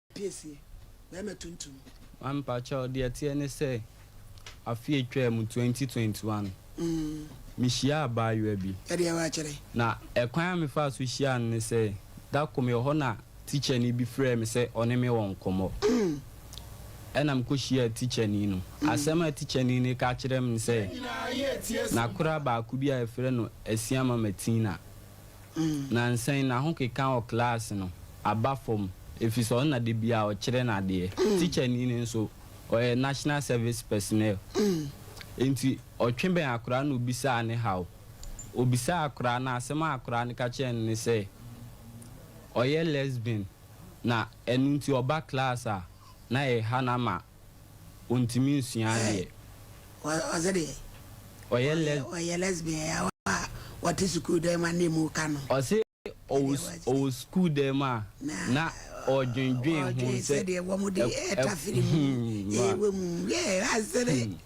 piesie, bɛɛma tuntum. Mpakyɛw deɛ ɛteɛ ne sɛ afe a atwaa mu, twenty twenty one, me hyiaa abaayewa bi. Ɛdeɛ wa kyerɛ. Na ɛkwan a me faa so hyiaa no ne sɛ, da koro me wɔ hɔ na tikyani bi frɛɛ me sɛ ɔne me wɔ nkɔmɔ. Ɛna me kɔ hyiaa tikyani no. Asɛm a tikyani no ka kyerɛɛ me ne sɛ, n'akora baako bi a yɛfrɛ no Asiamah Matina Nansa yi n'ahokeka wɔ klaase no aba fam efisɛ ɔno na da biara ɔkyerɛ no adeɛ. Tikyani no nso, ɔyɛ National Service Personnel. Enti ɔtwe bɛn akwadaa no na obisaa ne haw. Obisaa akwadaa no a, asɛm a akwadaa no ka kyerɛɛ no ne sɛ, ɔyɛ lesbian na ɛno nti ɔba klaase a, na ɛreha no ama. ɔntumi nsua adeɛ. Ɔse deɛ ɔyɛ lesbian a ɔte sukuu dan mu a na ɛmu reka no. Ɔse ɔwɔ sukuu dan mu a na ɔredwendwen ho sɛ ɛkɔ.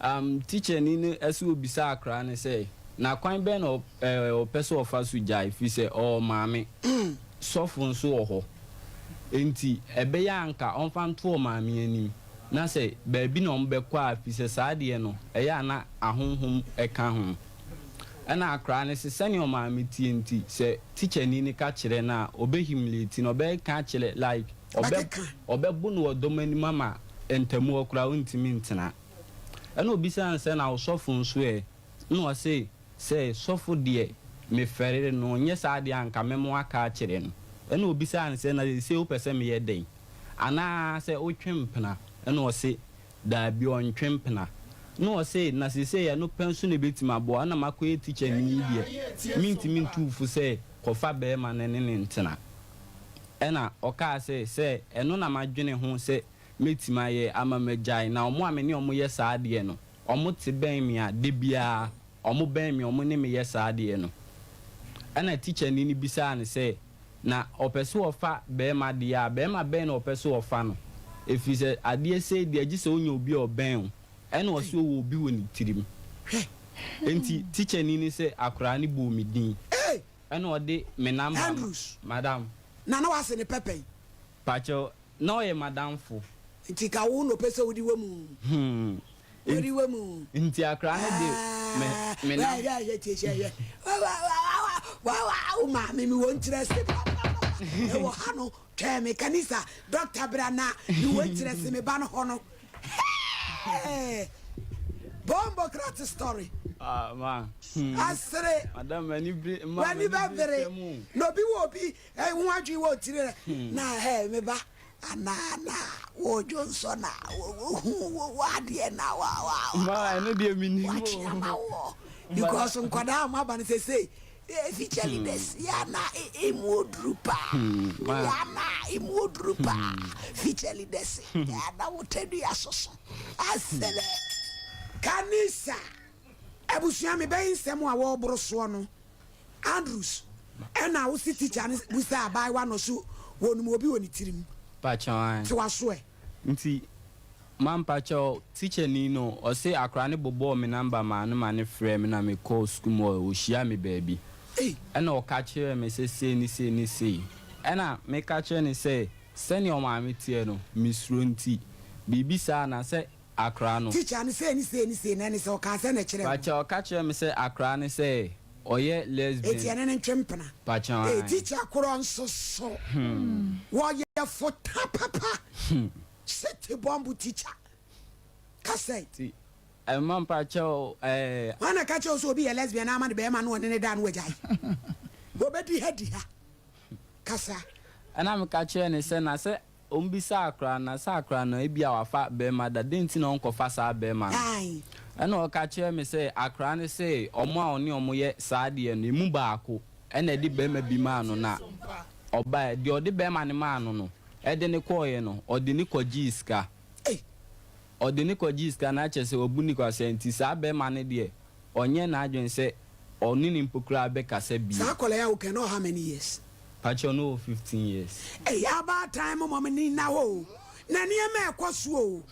Um, tikyani no ɛso ɔbisa akra no sɛ, Na kwan bɛn na eh, ɔpɛ sɛ ɔfa so gyae, firi sɛ ɔwɔ maame, sɔfo nso wɔ hɔ, enti ɛbɛyɛ a anka ɔmfa nto ɔmaame anim, na sɛ baabi na wɔbɛkɔ a, firi sɛ saa deɛ no ɛyɛ a na ahonhom ɛka ho. Ɛna akra no se, sɛdeɛ ɔmaame teɛ nti, sɛ tikyani no ka kyerɛ no a, ɔbɛ humiliate no, ɔbɛka akyerɛ, like, ɔbɛka. Ɔbɛbu no wɔ dɔm anim ama ntamu hɔ koraa ɔrentumi ntena. Ɛna ɔbisaa no sɛ, Na wo sɔfo nso ɛ? Ɛna ɔse sɛ, Sɔfo deɛ mefɛree no, nyɛ saa deɛ a anka me mo aka akyerɛ no. Ɛna ɔbisaa no sɛ, Na seesei wopɛ sɛ meyɛ dɛn? Anaa sɛ wotwe mpena? Ɛna ɔse, Daabi, ɔntwe mpena. Nna ɔse, na sesei ɛno pɛ nso na ɛbɛtumi aboa, nna makɔyɛ tikyani yi deɛ, mentumi ntu wo fo sɛ kɔfa barima no ne no ntena. Ɛna ɔkaa sɛ, sɛ ɛno na madwene ho sɛ mɛtumi ayɛ ama magyae, na wɔn a me ne wɔn yɛ saa adeɛ no, wɔte bɛn me a, da biara wɔbɛn me, wɔne me yɛ saa adeɛ no. Ɛna tikyani no bisaa no sɛ. na ɔpɛ sɛ ɔfa barima deɛ a, barima bɛn na ɔpɛ sɛ ɔfa no? Ɛfiri sɛ, adeɛ sei deɛ, gye sɛ wonya obi a ɔbɛn wo, ɛna ɔsɛ ɔwɔ obi wɔ ne tirim. Enti, tikyani no sɛ, Akoraa no bɔɔ me din, ɛna ɔde me namba ma. Andrews. Madam. Na na w'ase ne pɛpɛ yi. Pakyɛw, na ɔyɛ m'adamfo. Nti ka wo na ɔpɛ sɛ odi w'amu. Hmm, Nti akra no de me nam. Wo maame mi wɔn kyerɛ se ɛwɔ ha no twɛn me kanisa dɔkta bra na mi wɔn kyerɛ se me ba no hɔ no. Bombo krat story. Ah ma. Hmm. Asere. Madam mani bere ma. Wani bɛ bere. Na obi wɔ obi ho adwene wɔ tiri na ɛ me ba. Anaa na wodwo nso na wohu wo w'adeɛ na wa wa wa Ma ɛno deɛ menim o. wakye ama wo because nkwadaa a wɔn aba no sesei eh, future leaders yɛ ana e- emu oduru paa ma. yɛ ana emu oduru paa future leaders yɛ ana wotadua soso asere kanisa. Abusua me bɛyi nsɛm a wɔ boro soɔ no Andrews ɛna wo se teacher no busa abaayewa no so wɔ num obi wɔ ne tirim te wa so ɛ. Nti ma mpakyɛw teacher ni no ɔse akora no bobɔɔ me number maa no ma no frɛɛ me na me kɔɔ school mu ɔ ɔhyia me baabi ɛna ɔka kyerɛɛ me sɛ sei ne sei ne sei ɛna me ka kyerɛ no sɛ sɛnea ɔmaame teɛ no me suro nti biribi saa na sɛ Akora no. Teacher no sei ne sei ne sei na ɛne sɛ ɔkaa sɛ na ɛkyerɛ no. Pakyɛ ɔka kyerɛ me sɛ akora no sɛ ɔyɛ lesbian. Eti ɛne no ntwe mpena. Pakyɛ ae. Ee teacher korɔ nso so. Hmm. Wɔyɛ fota papa. Hmm. City bomb teacher. Kasɛe. Ti ɛma mpakyɛ o ɛɛ. Wɔn na ka kyerɛ sɛ obi yɛ lesbian ama ne bɛrima no ɔne ne da no wagyae. Wɔbɛdi ha di ha. Kasa. Ɛna meka kyerɛ ne sɛ na sɛ Ɔmbisaa koraa na saa koraa no ebia ɔafa barima da, dɛn ntsi na ɔnnkɔfa saa barima no? Nna ɔka kyerɛɛ me sɛ akoraa no sɛ hɔn a ɔne hɔn yɛ saa adeɛ no emu baako na ɛde barima bi maa no na ɔbaeɛ, deɛ ɔde barima no maa no no de no kɔeɛ no ɔde no kɔgyee sika. Ɔde no kɔ gyee sika na kyɛsɛ ɔbu no kwasia nti saa bɛɛma no deɛ ɔnyɛ n'adwene sɛ ɔne no mpo koraa bɛkasa bio. Saa akwadaa yi a woka yi na ɔwɔ how many years? Pakyɛw no wɔ fifteen years. Ɛyɛ abaatan mo mom ni na hɔ o na nneɛma ɛkɔ so o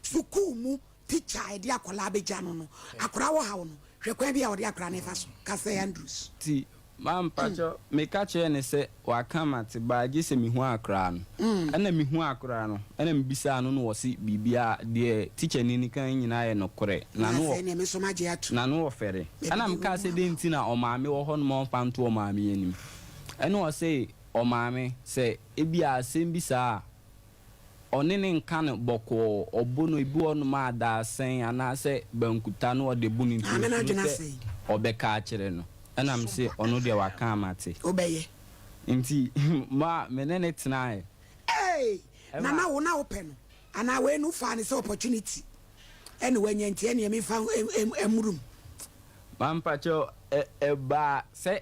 sukuu mu teacher a ɛde akwadaa bɛgya no no akwadaa wɔ how no hwɛ kwan bi a ɔde akwadaa no ɛfa so ka sɛ Andrews. Ti Ma mpakyɛ meka kyerɛɛ no sɛ waka ma te baa gye sɛ mehu akora no ɛna mehu akora no ɛna mebisaa no na ɔse biribiaa deɛ teacher ni no ka nyinaa yɛ nokorɛ na no na no ɔfɛre ɛna mekaa sɛ dɛn nti na ɔmaame wɔ hɔ no ma ɔmfa nto ɔmaame anim ɛna ɔse ɔmaame sɛ ebia asɛm bi saa a ɔne no nka no bɔkɔɔ, ɔbo no, ebi wɔ hɔnom a dadesɛn anaasɛ bankuta na ɔde bo no, nti osuro sɛ ɔbɛka akyerɛ no, ɛnna mise ɔno deɛ waka a mate. Wobɛyɛ. Nti ma me ne no tenae. Ee, na na wo na wopɛ no, anaa wei no wofaa no sɛ opportunity na woanya nti ɛnneɛ memfa mmoro mu? Mampakyɛw, ɛbaa sɛ.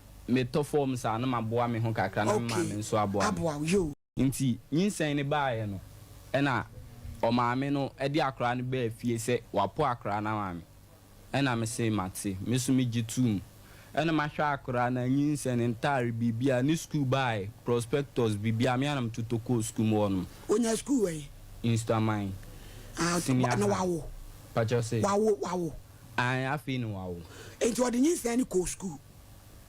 metɔ fɔm saa na maboa me ho kakra na me maame nso aboa me. Nti nyinsɛn no baeɛ no ɛna ɔmaame no de akwadaa no baa fie sɛ wapo akwadaa no ama me ɛna me se mate me nso me gye too mu ɛna mahwɛ akwadaa no anyinsɛn ne ntaare biribiara ne sukuu baeɛ prospectus biribiara me ara na metotɔ kɔɔ sukuu mu hɔ nom. Ɔnyaa sukuu wɛn? Nsuaman senior high. Na wawo? Pakyɛ wo se? Wawo, wawo. Aane afei na wawo. Nti ɔde nyinsɛn no kɔɔ sukuu?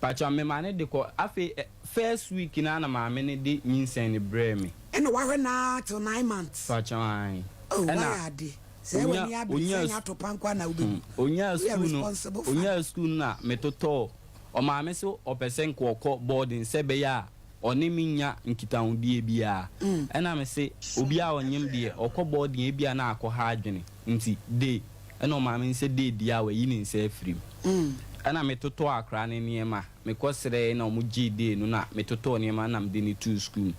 Pakyɛ me ma no de kɔ afei ɛ first week no a na maame no de nyinsɛn no brɛɛ me. Ɛna w'ahwɛ no ara till nine months. Pakyɛ aane Oh ɛna w'ayɛ ade sɛɛ onya w'ani abere sɛ onyaa ɛnyɛ sukuu atɔpa nkoa na wobɛwu mm onyaa woyɛ sukuu no responsible father. onyaa sukuu no na me totɔɔ ɔmaame so ɔpɛ sɛ nka ɔkɔ boarding sɛ ɛbɛyɛ a ɔne me nnya nkitahodie biara ɛna me se obiara ɔnyem deɛ ɔkɔ boarding a ebia na akɔ ha adwene Nti de, ɛna ɔmaa me nsa dii dua a wayi ne nsa afiri mu. Ɛna metotɔɔ akwadaa no nneɛma, mekɔsrɛeɛ na wɔgyee dee no na metotɔɔ nneɛma na mede no too sukuu mu.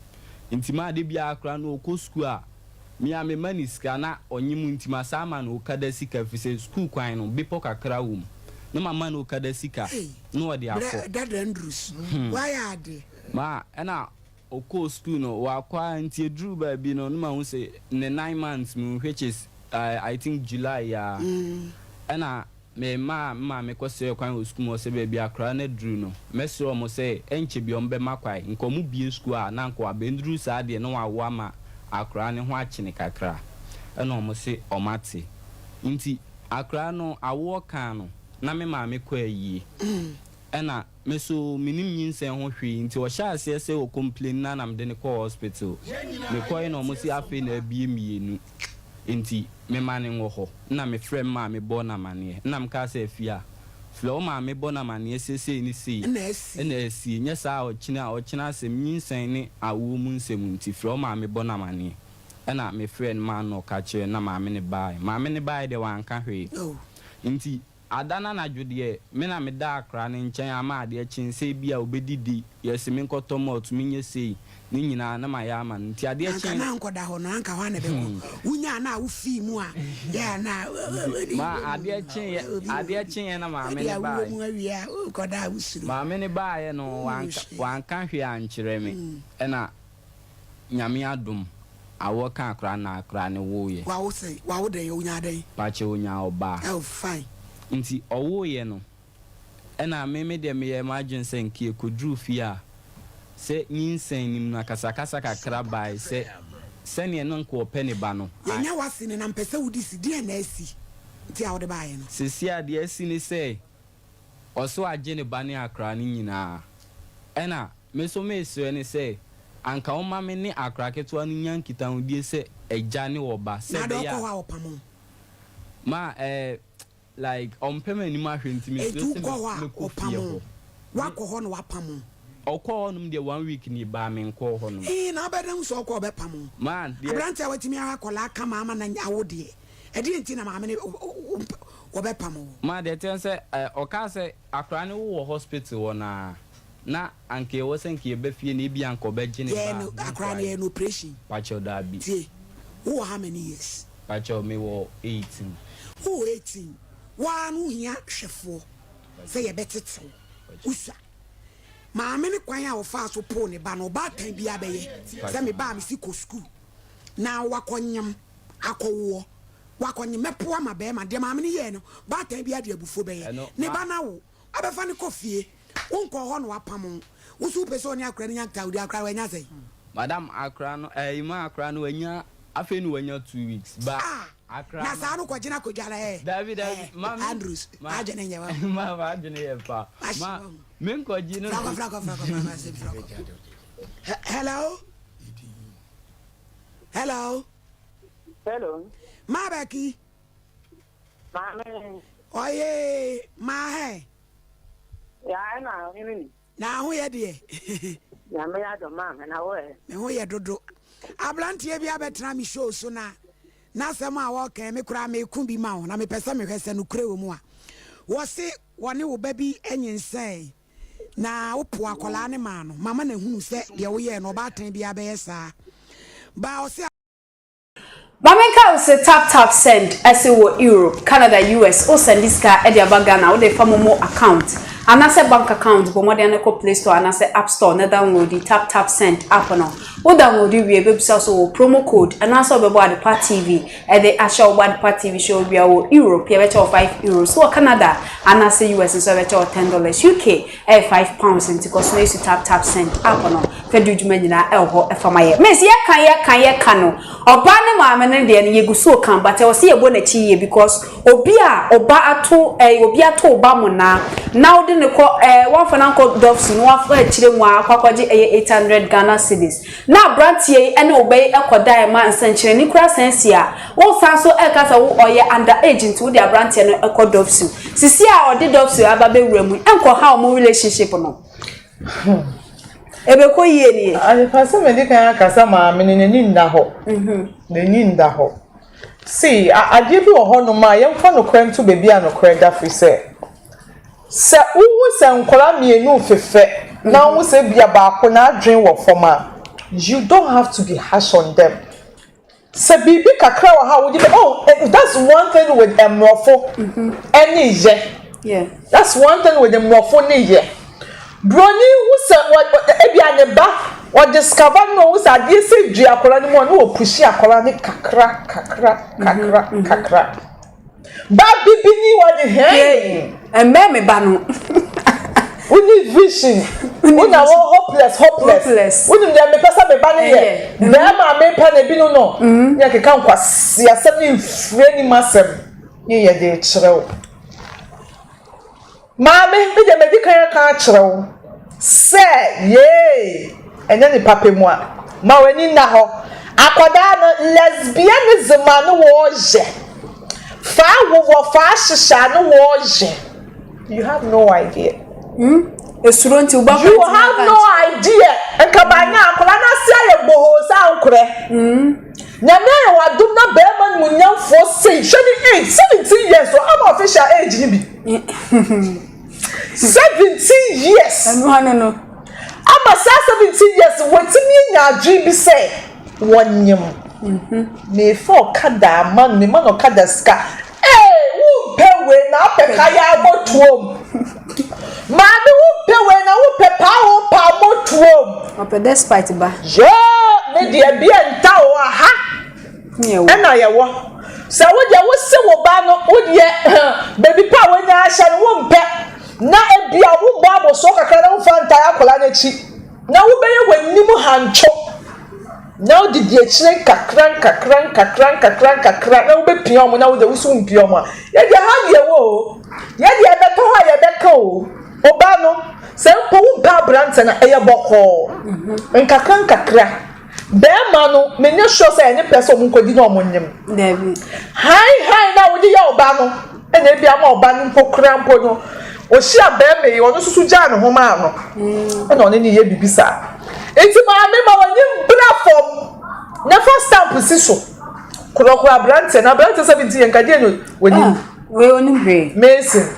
Nti maa da biara akwadaa no ɔkɔ sukuu a, me ara mema no sika na ɔnnye mu nti masan ama no okada sika ɛfiri sɛ sukuu kwan no, bepɔ kakra wɔ mu. Na mama no okada sika na ɔde akɔ. Ei, berɛ ɛda dɛn duru so? Hum. Woayɛ adeɛ. Maa, ɛna Ɔkɔɔ sukuu no, ɔakɔ ara nti eduruu baabi no nna mahu se ne nine months mu which is I think July a nna memaa me maame kɔsrɛɛ kwan wɔ sukuu mu ɔse baabi a akora no aduru no mɛsrɛ wɔn sɛ ɛnkyɛ biara wɔbɛma kwan nka wɔbue sukuu a na nka wɔabɛnduru saa deɛ na wɔawo ama akora no ho akyene kakra ɛna wɔn se wɔate nti akora no awoɔ kaa no na me maame kɔ ayie ɛna Me so menim nyinsɛn ho hwee nti ɔhyɛɛ aseɛ sɛ ɔ complain na na mede no kɔɔ hospital. Mekɔe na ɔmo se afei na abue mmienu nti mema no nwɔ hɔ. Nna me frɛ me maame bɔɔ no amaneɛ. Nna me kaa sɛ Afia, frɛ wo maame bɔ no amaneɛ sɛ sei ne sei na asie nyɛ saa a ɔkyena a ɔkyena asɛm nyinsɛn ne awoɔ mu nsɛm nti frɛ wo maame bɔ no amaneɛ. Ɛna me frɛɛ no maa no na ɔka kyerɛɛ no na maame no baaɛ. Maame no baaɛ deɛ wanka hwee nti Ada no anadwo deɛ, me na meda akra no nkyɛn ama adeɛ kye sɛ ebia ɔbɛdidi, yɛse menkɔtɔ malt menyɛ sei, ne nyinaa na mayɛ ama no. Nti adeɛ Anka kye. na ankɔda hɔ no, anka hɔ a na ɛbɛkɔ. Wonyaa no a, wofii mu a, yɛ a na Nti ma adeɛ kyeeɛ, adeɛ kyeeɛ na maame Ebia no wowɔ baaeɛ. mu awie a, wokɔda a wosuro. Maame no baaeɛ no, Woo wanka, hwee. wanka hwee ankyerɛ me. Ɛna Nyame adom awɔ kaa koraa na koraa ne woo yɛ. Wawo sɛn? Wawo dɛn? Onyaa dɛn? Pakyɛ onyaa ɔbaa. Oh fine. Nti ɔwoo yɛ no ɛna me me deɛ me yɛɛ m'adwene sɛ nka yɛ kɔduruu fie a sɛ nyinsɛn nim no akasakasa kakra baae sɛ sɛdeɛ na nka ɔpɛ ne ba no I. Yɛnya w'ase no na mpɛ sɛ wode si, deɛn na asi nti a wode baeɛ no? Seesei a deɛ asi ne sɛ Ɔso agye ne ba ne akra no nyinaa. Ɛna me nso meresrɛ no sɛ anka ɔmma me ne akra ketewa no nya nkitahodie sɛ agya ne ɔba sɛ ɛbɛyɛ a. Nada ɔkɔ hɔ a ɔpam wo? Ma eh like ɔmpɛ m'anim ahwɛ nti mesrɛ sɛ mɛkɔ fie hɔ. Wakɔ hɔ na wapam wo? Ɔkɔɔ hɔnom deɛ one week ni baa menkɔɔ hɔnom. Ee na wobɛda hu sɛ ɔkɔ a ɔbɛpam wo. Aberanteɛ a watumi ara akwadaa kama ama no awo deɛ. Ɛdeɛn nti na maame no wompɛ wɔbɛpam wo? Ma deɛ ɛteɛ sɛ eh, ɔkaa sɛ akwadaa no wowɔ hospital hɔ no ara na anka ɛwɔ sɛ anka yɛba fie na ebia anka ɔbɛgye ne Yɛyɛ ba no, a akwadaa no yɛyɛ no operation. Pakyɛw daabi. Tie, wowɔ how many years? Pakyɛw mewɔ eighteen. Wowɔ eighteen, wo ara no wohia hwɛfoɔ sɛ yɛbɛtete wo, wosua. Maame no kwan a ɔfaa so poo ne ba no, ɔbaatan biara bɛyɛ sɛ me ba a mese kɔ sukuu na wakɔnyem. akɔwoɔ, wakɔ nye mɛpo ama bɛɛma, deɛ maame no yɛɛ no, baatan biara de abufuo bɛyɛ ne ba na wo abɛfa no kɔ fie, wo nkɔɔ hɔ na wapamo wo, wo so wopɛ sɛ ɔne akora no nya nkitahodi, akora wanya sɛn? Madam akora no ɛɛ ima akora no wanya afei na wanya two weeks ba akora no. Ah na saa no kɔgyina akɔdwa no ɛɛ. Dabi dabi ma me Andrews adwene nyɛ wa ho. Ma ma adwene yɛ pa ma me nkɔgye no. Frakɔ frakɔ frakɔ ma ma se frakɔ. Hello. Hello. Hello. Maa Bɛki. Maame. Ɔye maa hɛ. Yaa ɛna ɔhene ni. Na ho yɛ deɛ. Nyame yɛ adɔ maa me na wo ɛ. Me ho yɛ dodo. Abranteɛ bi abɛtena me show so na n'asɛm a wɔkɛn me koraa meko bi ma wo na mepɛ sɛ mehwɛ sɛ nokorɛ wɔ mu a wɔse wɔne wo ba bi nyinsɛn na wopoo akwadaa no maa no. Mama no ahunu sɛ deɛ woyɛɛ no, ɔbaatan biara bɛyɛ saa. Baa ɔse. Maame nkae wo se tap tap send ɛse wɔ Europe, Canada, US wo sɛnde sika ɛde aba Ghana wode fa momo account anasɛ bank account bɔ mmɔden ne kɔ play store anasɛ app store na downloadi tap tap send app no wo downloadi wie ɛbɛbisa wo sɛ wɔ promo code anaasɛ wobɛbɔ adepa TV Ɛde ahyɛ wo Wadpa TV show wia wɔ Europe yɛbɛkyɛ wo five euros, wɔ Canada anaasɛ US nso yɛbɛkyɛ wo ten dollars, UK ɛyɛ five pounds nti kɔ so na esu tap tap send app no fɛ di wo dwuma nyinaa ɛwɔ hɔ ɛfa ma yɛ. Miss yɛka yɛka yɛka no ɔbaa ne maame no deɛ no yɛgu so ka but ɛwɔ sɛ yɛbɔ n'akyi yie because obi a ɔba ato ɛɛ obi ato wo ba monaa na wode no kɔ ɛɛ wamfa no ankɔ dɔf su na wafa akyire mu a akɔ akɔgye ɛyɛ eight hundred Ghana cedis Na abranteɛ yi ne wo ba yi kɔ daeɛ ma nsɛnkyerɛnne kura san si a, wo san so ɛka sɛ wo ɔyɛ under age nti wo de abranteɛ no kɔ dɔpsu. Sisi a ɔde dɔpsu aba bɛwura mu yi, nkɔ haw mo relationship no. Hmm. Ɛbɛkɔ yie nie. Adepa sɛ mɛde kan aka sɛ maame no n'ani nna hɔ. Mhm. N'ani nna hɔ. See, adeɛ bi wɔ hɔ nom a yɛmfa nokorɛ nto baabi a nokorɛ da firi sɛ. Sɛ wuhu sɛ nkwadaa mmienu refefɛ na wuhu sɛ ebia baako n'adwene wɔ fam a, you don't have to be harsh on them. Sɛ biribi kakra wɔ hɔ a wode bɛ oh that's one thing with mmorɔfo ne yɛ. That's one thing with mmorɔfo ne yɛ. Buroni hu sɛ ebia ne ba wɔ discover no na ohu sɛ adeɛ sɛ dua akwadaa no mu a na wɔ pushi akwadaa no kakra kakra kakra kakra. Ba bibi ni wa de hɛn. Yay! Ɛmmɛn me ba no. Woni vision. Wona wɔ hopeless hopeless. Hopeless. Wonim deɛ mepɛ sɛ me ba no yɛ. Bɛrima a mepɛ no ebi no no. Ne ɛkeka nkwasi asɛm ne mfiri anim asɛm. Ne yɛ de kyerɛ wo. Maame, me deɛ madi kan aka akyerɛ wo sɛ yei nyɛ nipa pɛ mua. Ma w'ani nna hɔ. Akwadaa no, lesbianism a ne wɔɔyɛ, faa wo wɔ faa hyehyɛ a ne wɔɔyɛ, you have no idea. Hmm? Esuro nti wobɔ You kwanti have no n'akankyerɛ. idea. Nka banyɛ akwadaa no ase ayɛ bohoo sɛ ankorɛ. Nyame ayɛ w'adom na barima animuonyamfoɔ sei, hwɛ ne age, 17 years, ɔha no official age no bi. Seventeen years. Ɛno ano no. Ama saa seventeen years wɔatumi anya adwene bi sɛ wɔnyem. Mhm. Mefa ɔkada ama no, mema no ɔkada sika. Ee, wompɛ wei na apɛ kaya abɔtoam. Maame wompɛ wei na wopɛ paa wo paa abɔtoam. Ɔpɛ despite ba. Yoo, me deɛ bia nta o aha. Ɛna yɛwɔ. Sɛ wo deɛ wose wo ba no wo deɛ baabi pa a wanya ahyɛ no wompɛ na ebia wobɔ abɔsoɔ kakra na wofa ntae akwadaa no akyi na wobɛyɛ w'anim hantwo na wode di akyire nkakra nkakra nkakra nkakra nkakra na wobɛpia wɔn na wo deɛ woso wompia wɔn a yɛdeɛ ha deɛ wɔ o yɛdeɛ ɛbɛtɔ hɔ a yɛbɛka o ɔbaa no sɛ mpo wompɛ aberantɛ no ɛyɛ bɔkɔɔ nkakra nkakra Bɛɛma no menye sure sɛ ɛne pɛ sɛ ɔmo nkɔdi na ɔmo nyem. Dabi. Hann hann na wode yɛ ɔba no na ebi ama ɔba no mpo koraa mpo no ɔhyia bɛɛma yi ɔno nso so gyaa ne ho maa no mm. na ɔne ne yɛ biribi saa. Eti maame ma wɔnye mbra fam na fa stamp si so korɔkorɔ aberanteɛ na aberanteɛ sɛ bi nti yɛn kadeɛ no wɔnim. Ah, wei onim hwee. Mason.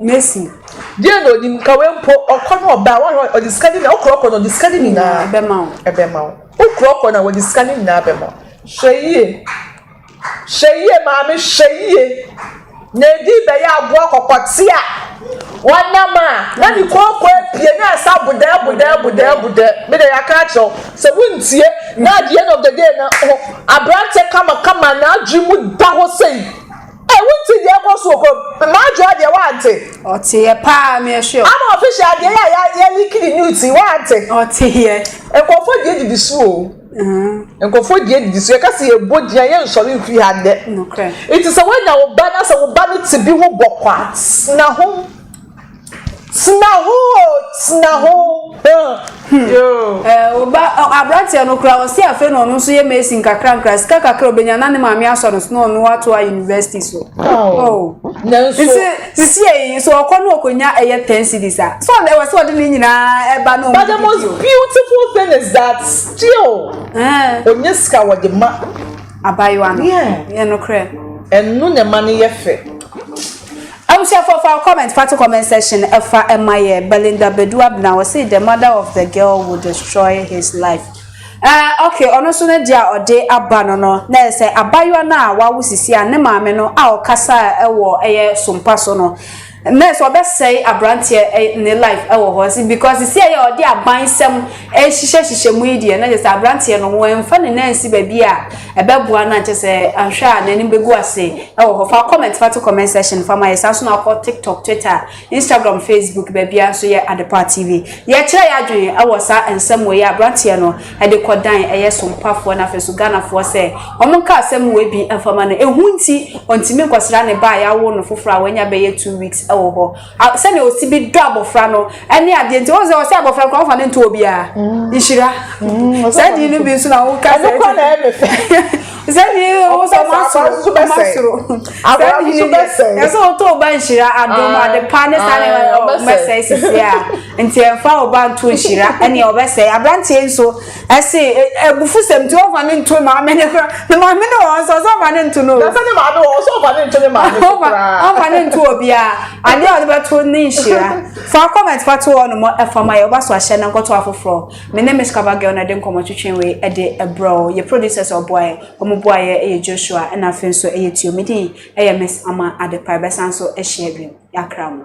Mesi. Deɛ na onim ka wei mpo ɔkɔ na ɔba wɔn a ɔde sika ne nyinaa okura ɔkɔ na ɔde sika ne nyinaa ɛbɛma wo ɛbɛma wo okura ɔkɔ na ɔde sika ne nyinaa ɛbɛma wo hwɛ yie hwɛ yie maame hwɛ yie na edi bɛyɛ aboa kɔkɔte a wɔnam a na ne kooko apue na ɛsa bodɛ bodɛ bodɛ bodɛ me de yɛaka akyerɛw sɛ wontie na at the end of the day na ho aberante kama kama na adwene mu da hɔ sɛyi Ɛ wo nte deɛ ɛkɔ so wɔ kurom? Marjoa deɛ wo ante? Ɔteɛ paa me ɛhwɛ o. Ama official adeɛ yɛ a ya ya leak ne nudes yi wo ante? Ɔteɛ. Nkurɔfoɔ deɛ didi so o. Nkurɔfoɔ deɛ didi so yɛka sɛ yɛbɔ din a yɛnsɔre mfiri ha nnɛ. Nokorɛ. Nti sɛ woanya wo ba na sɛ wo ba no te bi ho bɔkɔ a tena ho. Tena ho o, tena ho. Oba aberanteɛ no koraa ɔsi afei na ɔno nso yɛ mason kakra nkra sika kakra obenya na ne maame asɔ no so na ɔno ato a university so. Oh. Nanso nti sisi eyi nso ɔkɔ no ɔkɔnya ɛyɛ ten cities a so ɔde ɛwɔ sɛ ɔde ne nyinaa ɛba na ɔmo. But the most beautiful thing is that still onye sika wɔde ma. Abayewa no. Yeah. Yɛ no korɛ. Ɛno na ɛma no yɛ fɛ. Abusuafoɔ fa comment pa to comment section fa ma yɛ Belinda Badu Abena ɔsee the mother of the girl will destroy his life eh ok ɔno nso no deɛ a ɔde aba no no na ɛyɛ sɛ abayewa no a wawo sisi a ne maame no a ɔkasaa wɔ ɛyɛ sompa so no na ɛyɛ sɛ ɔbɛsɛe abranteɛ ne life ɛwɔ hɔ nso because sisi a yɛ ɔde abansɛm ɛhyehyɛ hyehyɛ mu yi deɛ na ɛyɛ sɛ abranteɛ no wɔn mfa ne nan nsi baabi a Ɛbɛboa no a kyɛ sɛ anhwɛ a n'anim bɛgu ase wɔ hɔ. Fa wo comment fa to comment section fa ma yɛ. Saa nso na wokɔ TikTok, Twitter, Instagram, Facebook, baabiara nso yɛ Adepa TV. Yɛkyerɛ yɛn adwene wɔ saa nsɛm wei a aberanteɛ no de kɔdan ɛyɛ sompafoɔ no afei nso Ghanafoɔ sɛ wɔnka asɛm wei bi mfa ma no. Ehu nti ɔntumi nkɔsra ne ba a yɛawo no foforɔ a wanya bɛyɛ two weeks wɔ hɔ. A Sɛnea osi bi dɔ abofra no ne adeɛ nti, wohu sɛ ɔsɛ abofra no koraa ɔmfa no nto obiara. Nhyira. Saa din no bi nso na woka sɛ. Ɛno kora na ɛyɛ me fɛ. Saa din no wo sɛ ɔma soro. Ɔma soro. Saa din no deɛ, ɛsɛ ɔtɔ ɔba nhyira, adom, adepa ne saa nneɛma no ɔbɛsɛe sisi a. Nti ɛmfa ɔba nto nhyira ne ɔbɛsɛe. Aberanteɛ nso, Ɛse abufusɛm nti ɔmfa ne nto maame ne kora ne maame ne wɔn nso ɔsɛ ɔmfa ne nto no. Dasa ne maame wɔn nso ɔmfa ne nto ne maame so koraa. Ɔmfa ne nto obiara adeɛ a ɔde bɛto ne nhyira. Fa comment fa to hɔ nom ɛfa ma yɛ ɔba so ahyɛ na nkɔto afoforɔ. Me ne Miss Cover Girl na ɛde nkɔmmɔ twetwe wei ɛde ɛbrɛ wo. Yɛ producers a ɔboa yɛ wɔn boa yɛ ɛyɛ Joshua ɛna afei nso ɛyɛ Tio. Me din ɛyɛ Miss Ama Adepa ɛbɛsan so ahyia bio. Yɛakra mo.